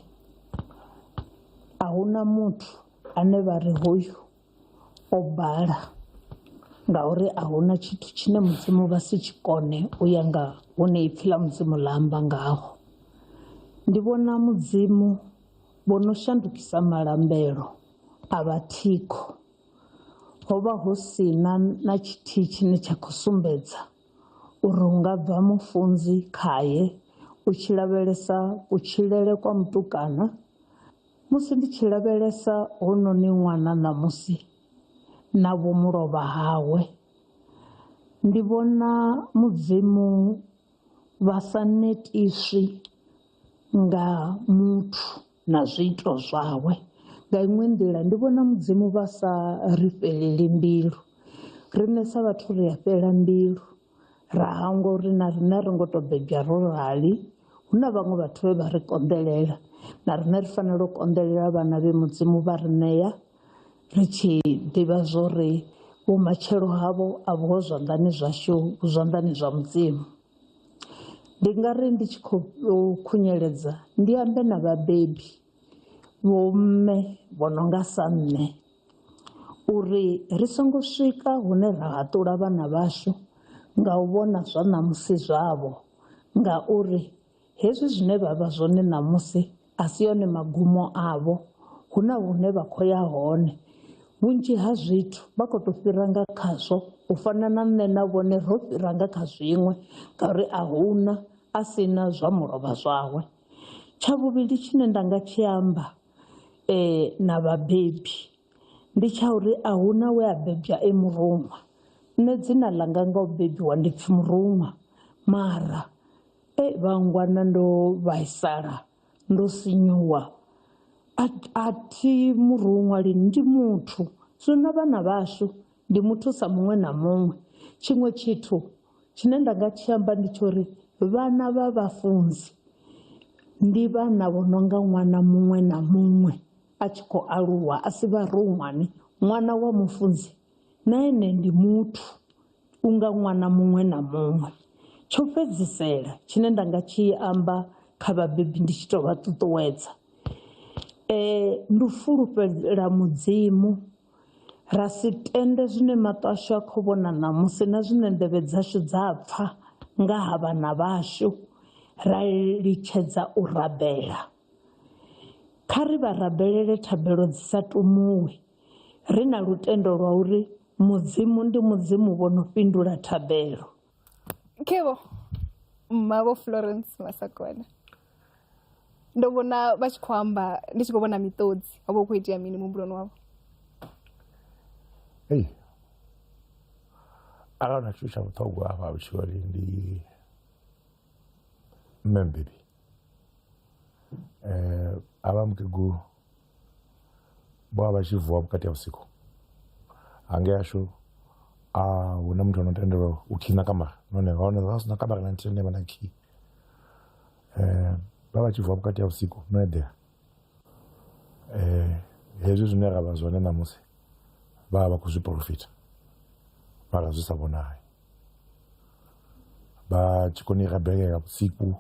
ahuna muthu. ane vha ri hoyu o bala ngauri a huna tshithu tshine mudzimu vha si tshi kone u ya nga hune ipfhi ḽa mudzimu ḽa amba ngaho ndi vhona mudzimu vho no shandukisa malambelo a vha thikho ho vha hu si na na tshithihi tshine tsha khou sumbedza uri hu nga bva mufunzi khaye u tshi lavhelesa kutshilele kwa mutukana. Musi ndi tshi lavhelesa hounoni ṅwana ṋamusi na vho mulovha hawe, ndi vhona Mudzimu vha sa netiswi nga muthu na zwiito zwawe nga iṅwe nḓila ndi vhona Mudzimu vha sa ri fhelele mbilu riṋe sa vhathu ri a fhela mbilu ra hangwa uri na rine ri ngo to bebya ro rali hu na vhaṅwe vhathu vhe vha ri konḓelela na rine ri fanela u konḓelela vhana vhe mudzimu vha ri ṋea ri tshi ḓivha zwori vhumatshelo havho a vhuho zwanḓani zwashu vhu zwanḓani zwa mudzimu ndi nga ri ndi tshi khou khunyeledza ndi ambe na vhabebi vho mme vho no nga sa nṋe. uri ri songo swika hune ra haṱula vhana vhashu nga u vhona zwa ṋamusi zwavho ngauri hezwi zwine vha vha zwone ṋamusi a si one magumo avho, hu na hune vha khou ya hone. Vhunzhi ha zwithu vha kho to fhira nga khazwo u fana na nṋe na vhone ro fhira nga kha zwiṅwe ngauri a huna a si na zwa mulovha zwawe, tsha vhuvhili tshine nda nga tshi amba. eh, na vhabebi ndi tsha uri a huna we a bebwa e muruṅwa nṋe dzina ḽanga nga u bebiwa ndi pfi muruṅwa mara e vhangwana ndo vhaisala ndo sinyuwa a thi muruṅwa lini ndi muthu zwino vhana vhashu ndi muthu sa muṅwe na muṅwe tshiṅwe tshithu Tshine nda nga tshi amba ndi tsho uri vhana vha vhafunzi ndi vhana vho no nga ṅwana muṅwe na muṅwe a tshi khou aluwa a si vharonwane. Ṅwana wa mufunzi na ene ndi muthu u nga ṅwana muṅwe na muṅwe. Tsho fhedzisela tshine nda nga tshi amba kha vhabebi ndi tshi to vha ṱuṱuwedza ndi u fulufhela mudzimu. Ra si tende zwine maṱo ashu a khou vhona ṋamusi na zwine nḓevhe dzashu dza pfa nga ha vhana vhashu ra litshedza u rabela. Kha ri vha rabelele thabelo dzi sa tumuwi, ri na lutendo lwa uri Mudzimu ndi Mudzimu vho no fhindula thabelo. kevho mavho florence masakwana ndo vhona vha tshi khou amba ndi tshi khou vhona miṱodzi ho vha hu khou itea mini muhumbuloni wavho ei arali na tshithu tsha vhuṱhogwa hafha vhutshiloni ndi mme mbebi um a vha mukegulu bwa vha tshi vuwa vhukati ha vhusiku hange ashu a hu na muthu ano tendelwa u khina kamara none hone vha sina kamara na nthihi ne vha na khi um vha vha tshi vuwa vhukati ha vhusiku no eḓela um hezwi zwine ra vha zwone ṋamusi vha vha vha khou zwi porofita mara zwi sa vhonali vha tshi koni rabelela vhusiku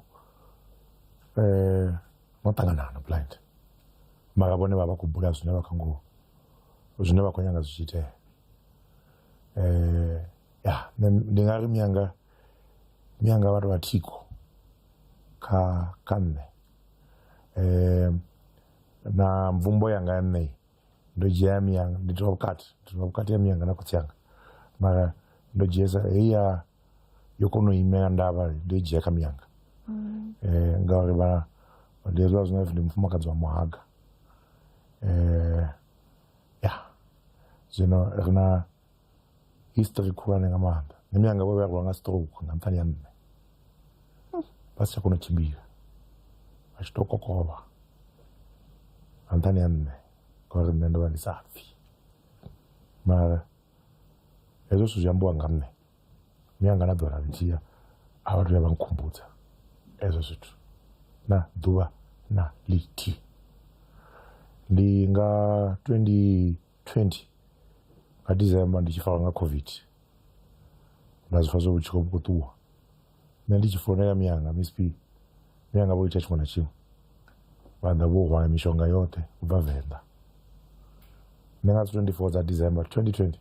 um vho ṱangana hano blind mara vhone vha vha khou bula zwine vha kho ngo zwine vha khou nyanga zwi tshi itea um ya ndi nga ri miyanga miyanga vhathu vha thiko kha kha nṋe um na mvumbo yanga ya nṋei ndo dzhia miyanga ndi tovha vhukati ndi tovha vhukati ha miyanga na khotsi anga mara ndo dzhiesa heyi ya yo kona u imela ndavha ndo i dzhia kha miyanga mm. eh, ngauri vha ndi hezwiḽa zwine ndi mufumakadzi wa muhaga eh, ya zwino ri na history khulwane nga maanḓa nṋe miyanga vho vhea rwa nga stroke nga nṱhani ya nṋe vha si tsha kona u tshimbila vha tshi to kokovha nga nṱhani ya nṋe ngauri nṋe ndo vha ndi sa pfhi mara hezwo zwithu zwi ambiwa nga nṋe mianga na ḓora ndzhia a vha tuya vha nkhumbudza ezwo zwithu na ḓuvha na lithi ndi nga 2020 nga december ndi tshi farwa nga covid nda zwi pfa zwo vhutshilo vhu khou ṱuwa nṋe ndi tshi founela miyanga msp miyanga vho ita tshiṅwe na tshiṅwe vha ḓa vho hwala mishonga yoṱhe u bva venḓa nṋe nga dzi 24 dza december 2020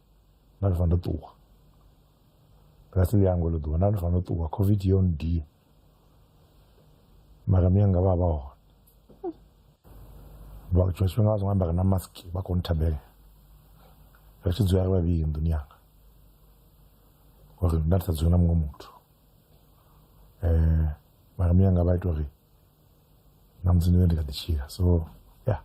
nda ndo fanela ṱuwa nga si ḽiango ḽo ḓuwa nda ndo fanela ṱuwa covid yo ndia mara miyanga vha vha hone vha tshiṅwe tshifhinga vha songo ambara na mask vha khou nthabelela ri tshi dzula ri vhavhili nḓuni yanga gore nna letsatsi yona mongwe motho um mara mme yanga ba ita gore na musi ndi ne ndi kha ḓi tshila so ya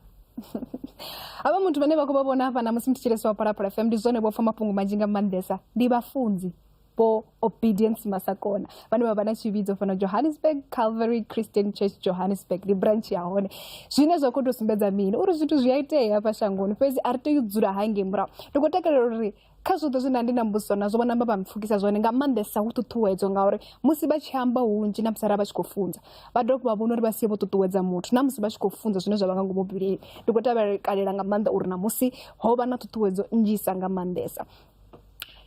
havha muthu vhane vha khou vha vhona hafha na musi ndi tshilesi wa phalaphala fm ndi zwone vho pfa mafhungo manzhi nga maanḓesa ndi vhafunzi vho obedience masakona vhane vha vha na tshivhidzo fhano johannesburg calvary christian church johannesburg ndi branch ya hone zwine zwa khou tou sumbedza mini uri zwithu zwi a itea hafha shangoni fhedzi a ri tei u dzula hangei murahu ndi khou takalela uri kha zwoṱhe zwine nda ndi na mbudziso nazwo vho namba vha mpfukisa zwone nga maanḓesa hu ṱuṱuwedzo ngauri musi vha tshi amba hunzhi na musi arali vha tshi khou funza vha dovha vha vhona uri vha sie vho ṱuṱuwedza muthu na musi vha tshi khou funza zwine zwa vha nga ngomu bivhilini ndi khou tavhekalela nga maanḓa uri namusi ho vha na ṱhuṱhuwedzo nnzhisa nga maanḓesa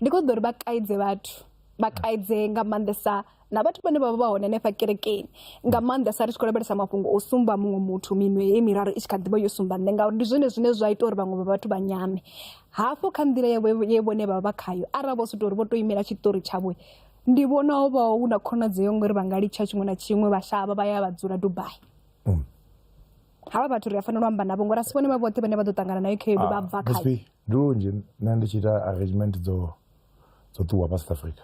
ndi khou ṱoḓa uri vha kaidze vhathu vha kaidze nga maanḓesa na vhathu vhane vha vha vha hone hanefha kerekeni nga maanḓesa ri tshi khou lavhelesa mafhungo o sumba muṅwe muthu minwe ye miraru i tshi kha ḓivha yo sumba nṋe ngauri ndi zwone zwine zwa ita uri vhaṅwe vha vhathu vha nyame hafho kha nḓila ye vhone vha vha khayo arali vho soto uri vho to imela tshiṱori tshavho ndi vhona ho vha hu na khonadzeo ngori vha nga litsha tshiṅwe na tshiṅwe vha shavha vha ya vha dzula dubai mm. havha vhathu ri a fanela u amba navho ngori a si vhone vha vhoṱhe vhane vha ḓo ṱangana nayo khaedu vha ah, bva khayo ndi lunzhi nṋe ndi tshi ita arrangement dzo dzo ṱuwa pa south africa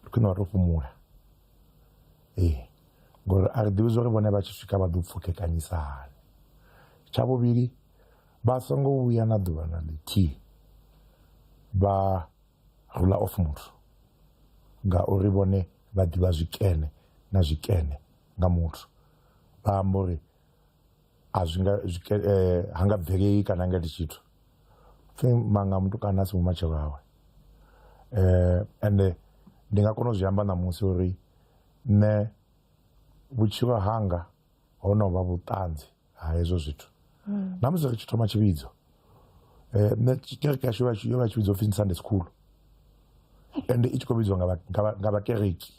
ndi khwine wa to fhumula ee ngori a ri ḓivhi zwa uri vhone vha tshi swika vha ḓo pfukekanyisa hani tsha vhuvhili vha songo vhuya na ḓuvha na ḽithihi vha rula off muthu ngauri vhone vha ḓivha zwikene na zwikene nga muthu vha amba uri a zwi nga zwi ke- eh, ha nga bvelei kana ha nga iti tshithu pfe manga mutukana a si mumatshelo awe eh ende ndi nga kona u zwi amba ṋamusi uri nṋe vhutshilo hanga ho no vha vhuṱanzi ha hezwo zwithu na musi ri tshi thoma tshivhidzo Eh, nṋe tsh- kereke yashu yo vha tshi- yo vha tshi vhidzwa upfhi ndi sunday school ende i tshi khou vhidzwa nga vha- nga vha- nga vhakereki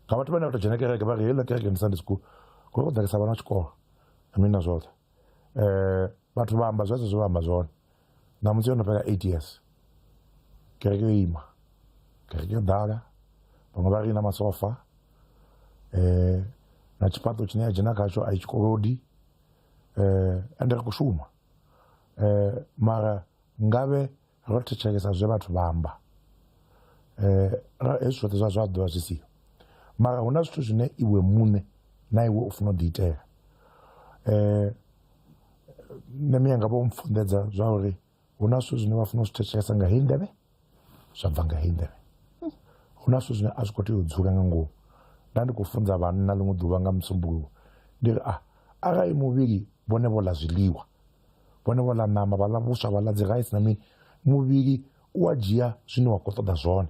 nga vhathu vhane vha tou dzhena kereke vha ri heiḽa kereke ndi sunday school kule ku ḓalesa vhana tshikolo na mini na zwoṱhe um vhathu vha amba zwezwo zwe vha amba zwone ṋamusi yo no fhela eight years kereke yo ima kereke yo ḓala vhaṅwe vha ri i na masofa um na tshifhaṱo tshine ya dzhena khatsho a i tshikolodi eh, ende ri khou shuma eh, mara ngavhe ro thetshelesa zwe vhathu vha amba eh, hezwi zwoṱhe zwa zwa ḓivha zwi siho mara hu na zwithu zwine iwe muṋe na iwe u funa u ḓiitela eh, nṋe miya nga vho mpfunḓedza zwa uri hu na zwithu zwine vha funa u zwi thetshelesa nga heyi nḓevhe zwa bva nga heyi nḓevhe hu na zwithu zwine a zwi khou tea u dzula nga ngomu nda ndi khou funza vhanna ḽiṅwe ḓuvha nga musumbuluwo ndi ri a ah, arali muvhili vhone vho ḽa zwiḽiwa vhone vho ḽa ṋama vha ḽa vhuswa vha ḽa dzi rice na mini muvhili u a dzhia zwine wa khou ṱoḓa zwone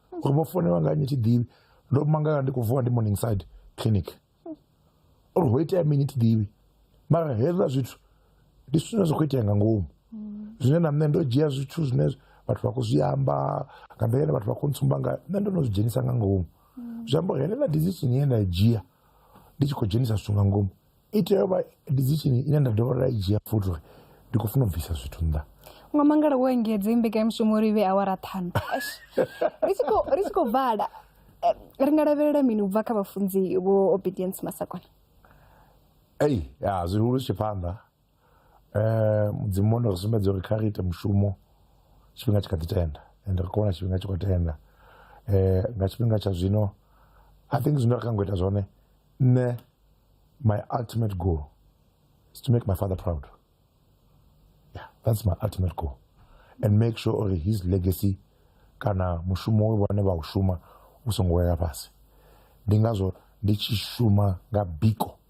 uri vho founelwa nga nnyi thiḓivhi ndo mangala ndi khou vuwa ndi morning side clinic uri ho itea mini thiḓivhi mara hezwiḽa zwithu ndi zwithu zwine zwa khou itea nga ngomu zwine na nṋe ndo dzhia zwithu zwine vhathu vha khou zwi amba nga nḓila ine vhathu vha khou ntsumba nga nṋe ndo no zwi dzhenisa nga ngomu zwi amba uri heneḽa decision ye nda i dzhia ndi tshi khou dzhenisa zwithu nga ngomu i tea u vha decision ine nda dovha nda i dzhia futhi uri ndi khou funa u bvisa zwithu nnḓa nga mangala wo engedze mbekanyamushumo uri i vhe awara ṱhanu ri tshi khou vhala eh, ri nga lavhelela mini u bva kha vhafunzi vho obedience masakona ei ya zwihulu tshi phanḓa Eh, mudzimu wono ri sumbedza uri kha ri ite mushumo tshifhinga tshi kha ḓi tenda and ri khou tshifhinga tshi khou tenda eh, nga tshifhinga tsha zwino i think zwine ra kha ngo ita zwone nṋe my ultimate goal is to make my father proud yeah that's my ultimate goal and make sure uri his legacy kana mushumo we vhone vha u shuma u songo wela fhasi ndi ngazwo ndi tshi shuma nga biko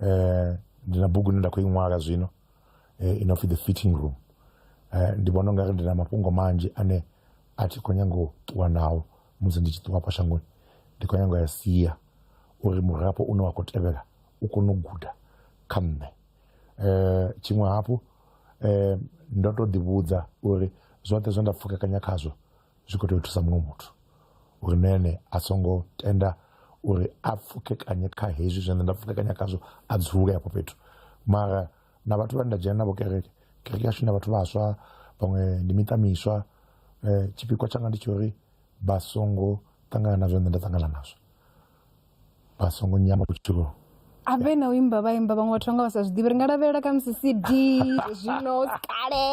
eh, ndi na bugu ine nda khou i ṅwala zwino eh, ino pfi the fitting room eh, ndi vhona ungari ndi na mafhungo manzhi ane a thi khou nyanga u ṱuwa nao musi ndi tshi ṱuwa hafha shangoni ndi khou nyanga u ya sia uri murafho une wa khou tevhela u kone u guda kha nṋe eh, tshiṅwe hafhu eh, ndo to ḓivhudza uri zwoṱhe zwe nda pfukekanya khazwo zwi khou tea u thusa muṅwe muthu uri na ene a songo tenda uri a pfukekanye kha hezwi zwine nda pfukekanya khazwo a dzule hafho fhethu mara na vhathu vhane nda dzhena navho kereke kereke yashu na vhathu vhaswa vhaṅwe ndi miṱa miswa um tshipikwa tshanga ndi tsha uri vha songo ṱangana na zwine nṋe nda ṱangana nazwo vha songo nyama vhutshilo a vhe na u imba vha imba vhaṅwe vhathu vha nga vha sa zwi ḓivhi ri nga lavhelela kha musi cd zwino kale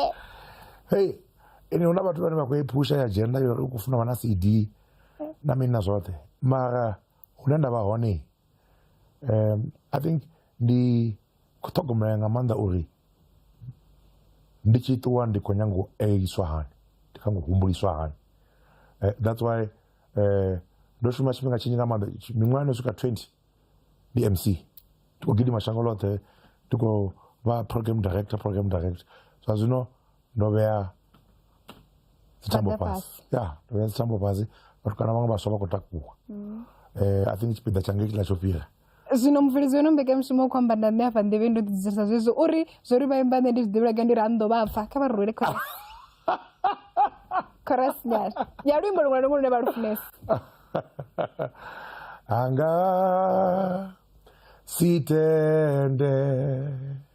hei ene hu na vhathu vhane vha khou i phusha ya dzhenda yo u khou funa vha na cd na mini na zwoṱhe mara hune nda vha hone um i think ndi Khou ṱhogomela nga maanḓa uri ndi tshi ṱuwa ndi khou nyanga u eliswa hani ndi kha ngo humbuliswa hani eh, that's why eh, ndo shuma tshifhinga tshinzhi nga maanḓa miṅwaha no swika 20 ndi mc ndi khou gidima shango ḽoṱhe ndi khou vha program director program director zwa zwino ndo vhea dzitambo Phanḓa fhasi ya ndo vhea dzitambo fhasi vhathu kana vhaṅwe vhaswa vha khou takuwa um i think tshipiḓa tsha ngei tshiḽa tsho fhira zwino mubveledzi weno mbekanyamushumo u khou amba na nṋe afha nḓevhe ndo ḓidzirisa zwezwo uri zwo ri vha imba nṋe ndi zwi ḓivhulaga ndi ri anḓo vha pfa kha vha ri rwele chorus chorus nyana ya luimbo luṅwe na luṅwe lune vha lu funesa anga sitende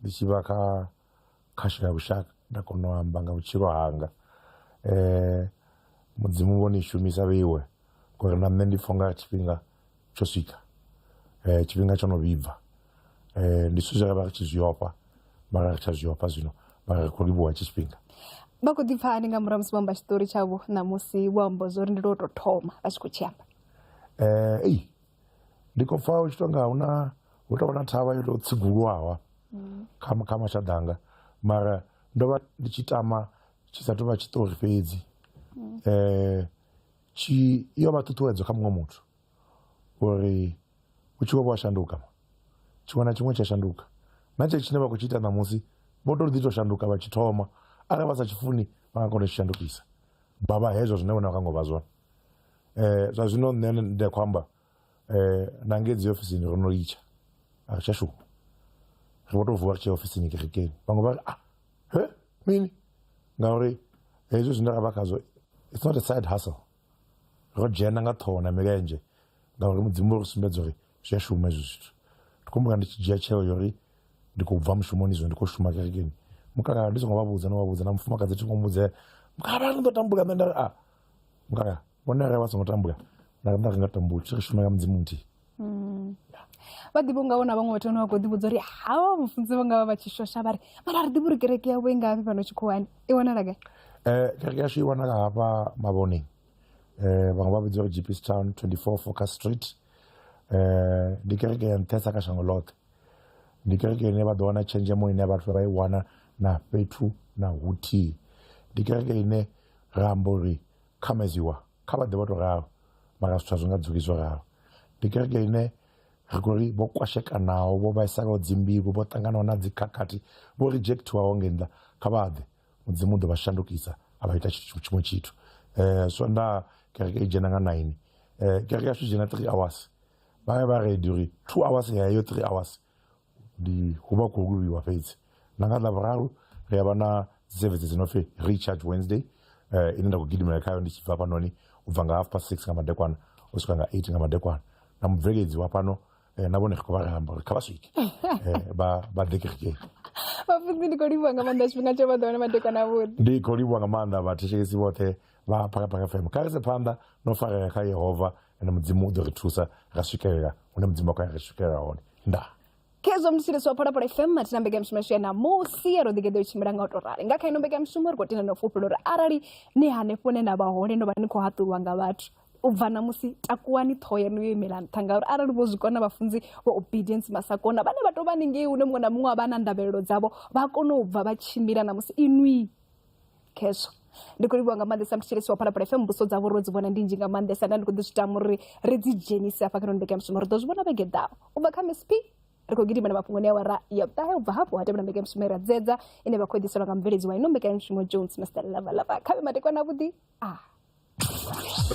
ndi tshi vha kha khasho ya lushaka nda kona u amba nga vhutshilo hanga um mudzimu vho ni shumisa vheiwe ngori na nṋe ndi pfha unga tshifhinga tsho swika um tshifhinga tsho no vhibva um ndi zwithu zwe ra vha ri tshi zwi ofha mara ri tsha zwi ofha zwino mara ri khou livhuwa hetshi tshifhinga vha khou ḓi pfha hani nga murahu musi vho amba tshiṱori tshavho ṋamusi vho amba zwo ri ndi lwo tou thoma vha tshi khou tshi amba um ei ndi khou pfa u tshi tonga huna hu tovha na thavha yo tou tsigulwaho kha kha mashaḓa anga mara ndo vha ndi tshi tama tshi sa tou vha tshiṱori fhedzi eh tshi yo vha ṱhuṱhuwedzo kha muṅwe muthu uri u tshi vho vha shanduka tshiṅwe na tshiṅwe tsha shanduka na tshe tshine vha khou tshi ita ṋamusi vho tou ḓi tou shanduka vha tshi thoma arali vha sa tshi funi vha nga kona u tshi shandukisa vha vha hezwo zwine vhone vha kha ngo vha zwone. um zwa zwino nṋe ndi a khou amba um na ngei dzi ofisini ro no litsha a ri tsha shuma ri vho tou vuwa ri tshia ofisini kerekeni vhaṅwe vha ri a ah, he mini ngauri hezwi zwine ra vha khazwo it's not a side hustle ro dzhena nga ṱhoho na milenzhe ngauri mudzimu ri sumbedza uri zwi a shuma hezwi zwithu ndi khou mbuka ndi tshi dzhia tsheo yo uri ndi khou bva mushumoni zwino ndi khou shuma kerekeni mukala ndi songo vha vhudza no vha vhudza na mufumakadzi thi ngo mudza mukala vha ri ndo tambula nṋe nda ri a ah, ngaya vhone arali vha songo tambula nda nda nga tambula tshi ri shuma nga mudzimu nthihi mm. vha ḓivha unga wona vhaṅwe vhathu vhane vha khou ḓivhudza uri hawa mufunzi vha nga vha vha tshi shosha vha ri mara ri ḓivha uri kereke yavho i nga vhi fhano tshikhuwani i wanala gai um kereke yashu i wanala hafha mavhoneng um vhaṅwe vha vhidza uri gps town 24 focus street um ndi kereke ya nṱhesa kha shango ḽoṱhe ndi kereke ine vha ḓo wana tshenzhemo ine vhathu vha i wana na fhethu na huthihi ndi kereke ine Ra amba uri khameziwa kha vha ḓe vha tou ralo, mara zwithu a zwi nga dzuli zwo ralo. Ndi kereke ine ri khou ri vho kwashekanaho, vho vhaisalaho dzimbilu, vho ṱanganaho na dzikhakhathi, vho rijekthiwaho ngei nnḓa, kha vha ḓe. Mudzimu u ḓo vha shandukisa a vha ita tshithu tshiṅwe tshithu. Swondaha kereke i dzhena nga naini. Kereke yashu i dzhena three hours. Vha vha ready uri two hours ya heyo three hours ndi hu vha khou luvhiwa fhedzi na nga ḽavhuraru ri a vha na dzisevhedzi dzi no pfhi recharge wednesday uh, ine nda khou gidimela khayo ndi tshi bva fhanoni u bva nga half past six nga madekwana u swika nga eight nga madekwana na mubveledzi wa fhano eh, na vhone ri khou vha ramba uri kha vha swike eh, vha vha ḓe kerekeni vhafunzi ndi khou livhuwa nga maanḓa tshifhinga tsho vha ḓo wana madekwana avhuḓi ndi khou livhuwa nga maanḓa vhathetshelesi vhoṱhe vha phakhaphakha fm kha rese phanḓa no farea kha yehova ende mudzimu u ḓo ri thusa ra swikelela hune mudzimu a khou ya ri swikelela hone ndaa khezwo mthetshelesi wa phalaphala fm mathina mbekanyamushumo yashu ya ṋamusi ya ro ḓigeḓo i tshimbila nga u tou rali nga kha ino mbekanyamushumo ri khou tenda na u fhufhela uri arali ni hanefho hune na vha hone no vha ni khou haṱulwa nga vhathu u bva ṋamusi takuwani ṱhoho yanu yo imela nṱha ngauri arali vho zwi kona vhafunzi vha obedience masakona vhane vha tou vha ningei hune muṅwe na muṅwe a vha na ndavhelelo dzavho vha kone u bva vha tshimbila ṋamusi inwi khezwo ndi khou livhuwa nga maanḓesa muthetshelesi wa phalaphala fm mbuso dzavho ro dzi vhona ndi nzhi nga maanḓesa nda ndi khou ḓi zwi tama uri ri dzi dzhenise hafha kha noni mbekanyamushumo ri ḓo zwi vhona vhege ḓaho u bva kha msp ri khou gidimela mafhungoni a wara ya vhuṱahe u bva hafho ha tevhela mbekanyamushumo ira dzedza ine vha khou ḓiselwa nga mubveledzi wa ino mbekanyamushumo jones master lavalava khavhe matekwana avhuḓi a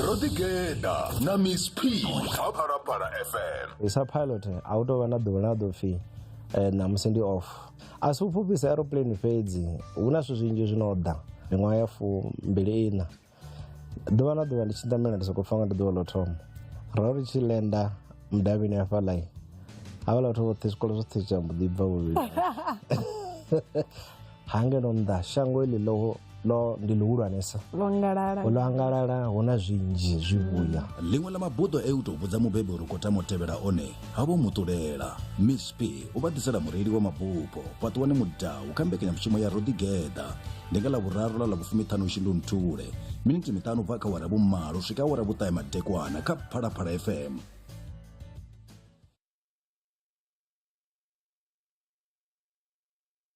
ro ḓi geḓa na miss p kha phalaphala fm isa pilot a u tou vha na ḓuvha ḽa ḓo pfhi eh, ṋamusi ndi off a si u fhufhisa aeroplane fhedzi hu na zwithu zwinzhi zwi no ḓa miṅwaha ya fumbili ina ḓuvha na ḓuvha ndi tshi ḓamela ndi sokou pfa nga ndi ḓuvha ḽo thoma ro ri tshi lenda mudavhini hafhaḽai havhala vhathu vhoṱhe zwikolo zwoṱhe tsha mbo ḓi bva vhuvhili ha nge no nnḓa shango iḽi ḽo ḽo ndi ḽihulwanesa ḽo angalala ḽo angalala hu na zwinzhi zwivhuya ḽiṅwe ḽa mabuḓo e u tou vhudza mubebi uri khou tama u tevhela one ha vho muṱulela miss p u vha ḓisela mureili wa mabupho fhaṱuwani mudau kha mbekanyamushumo ya roḓigeḓa ndi nga ḽa vhuraru ḽa ḽa vhufumiṱhanu shindu nthule miniti miṱanu bva kha wara vhumalo swika wara vhuṱahe madekwana kha phalaphala fm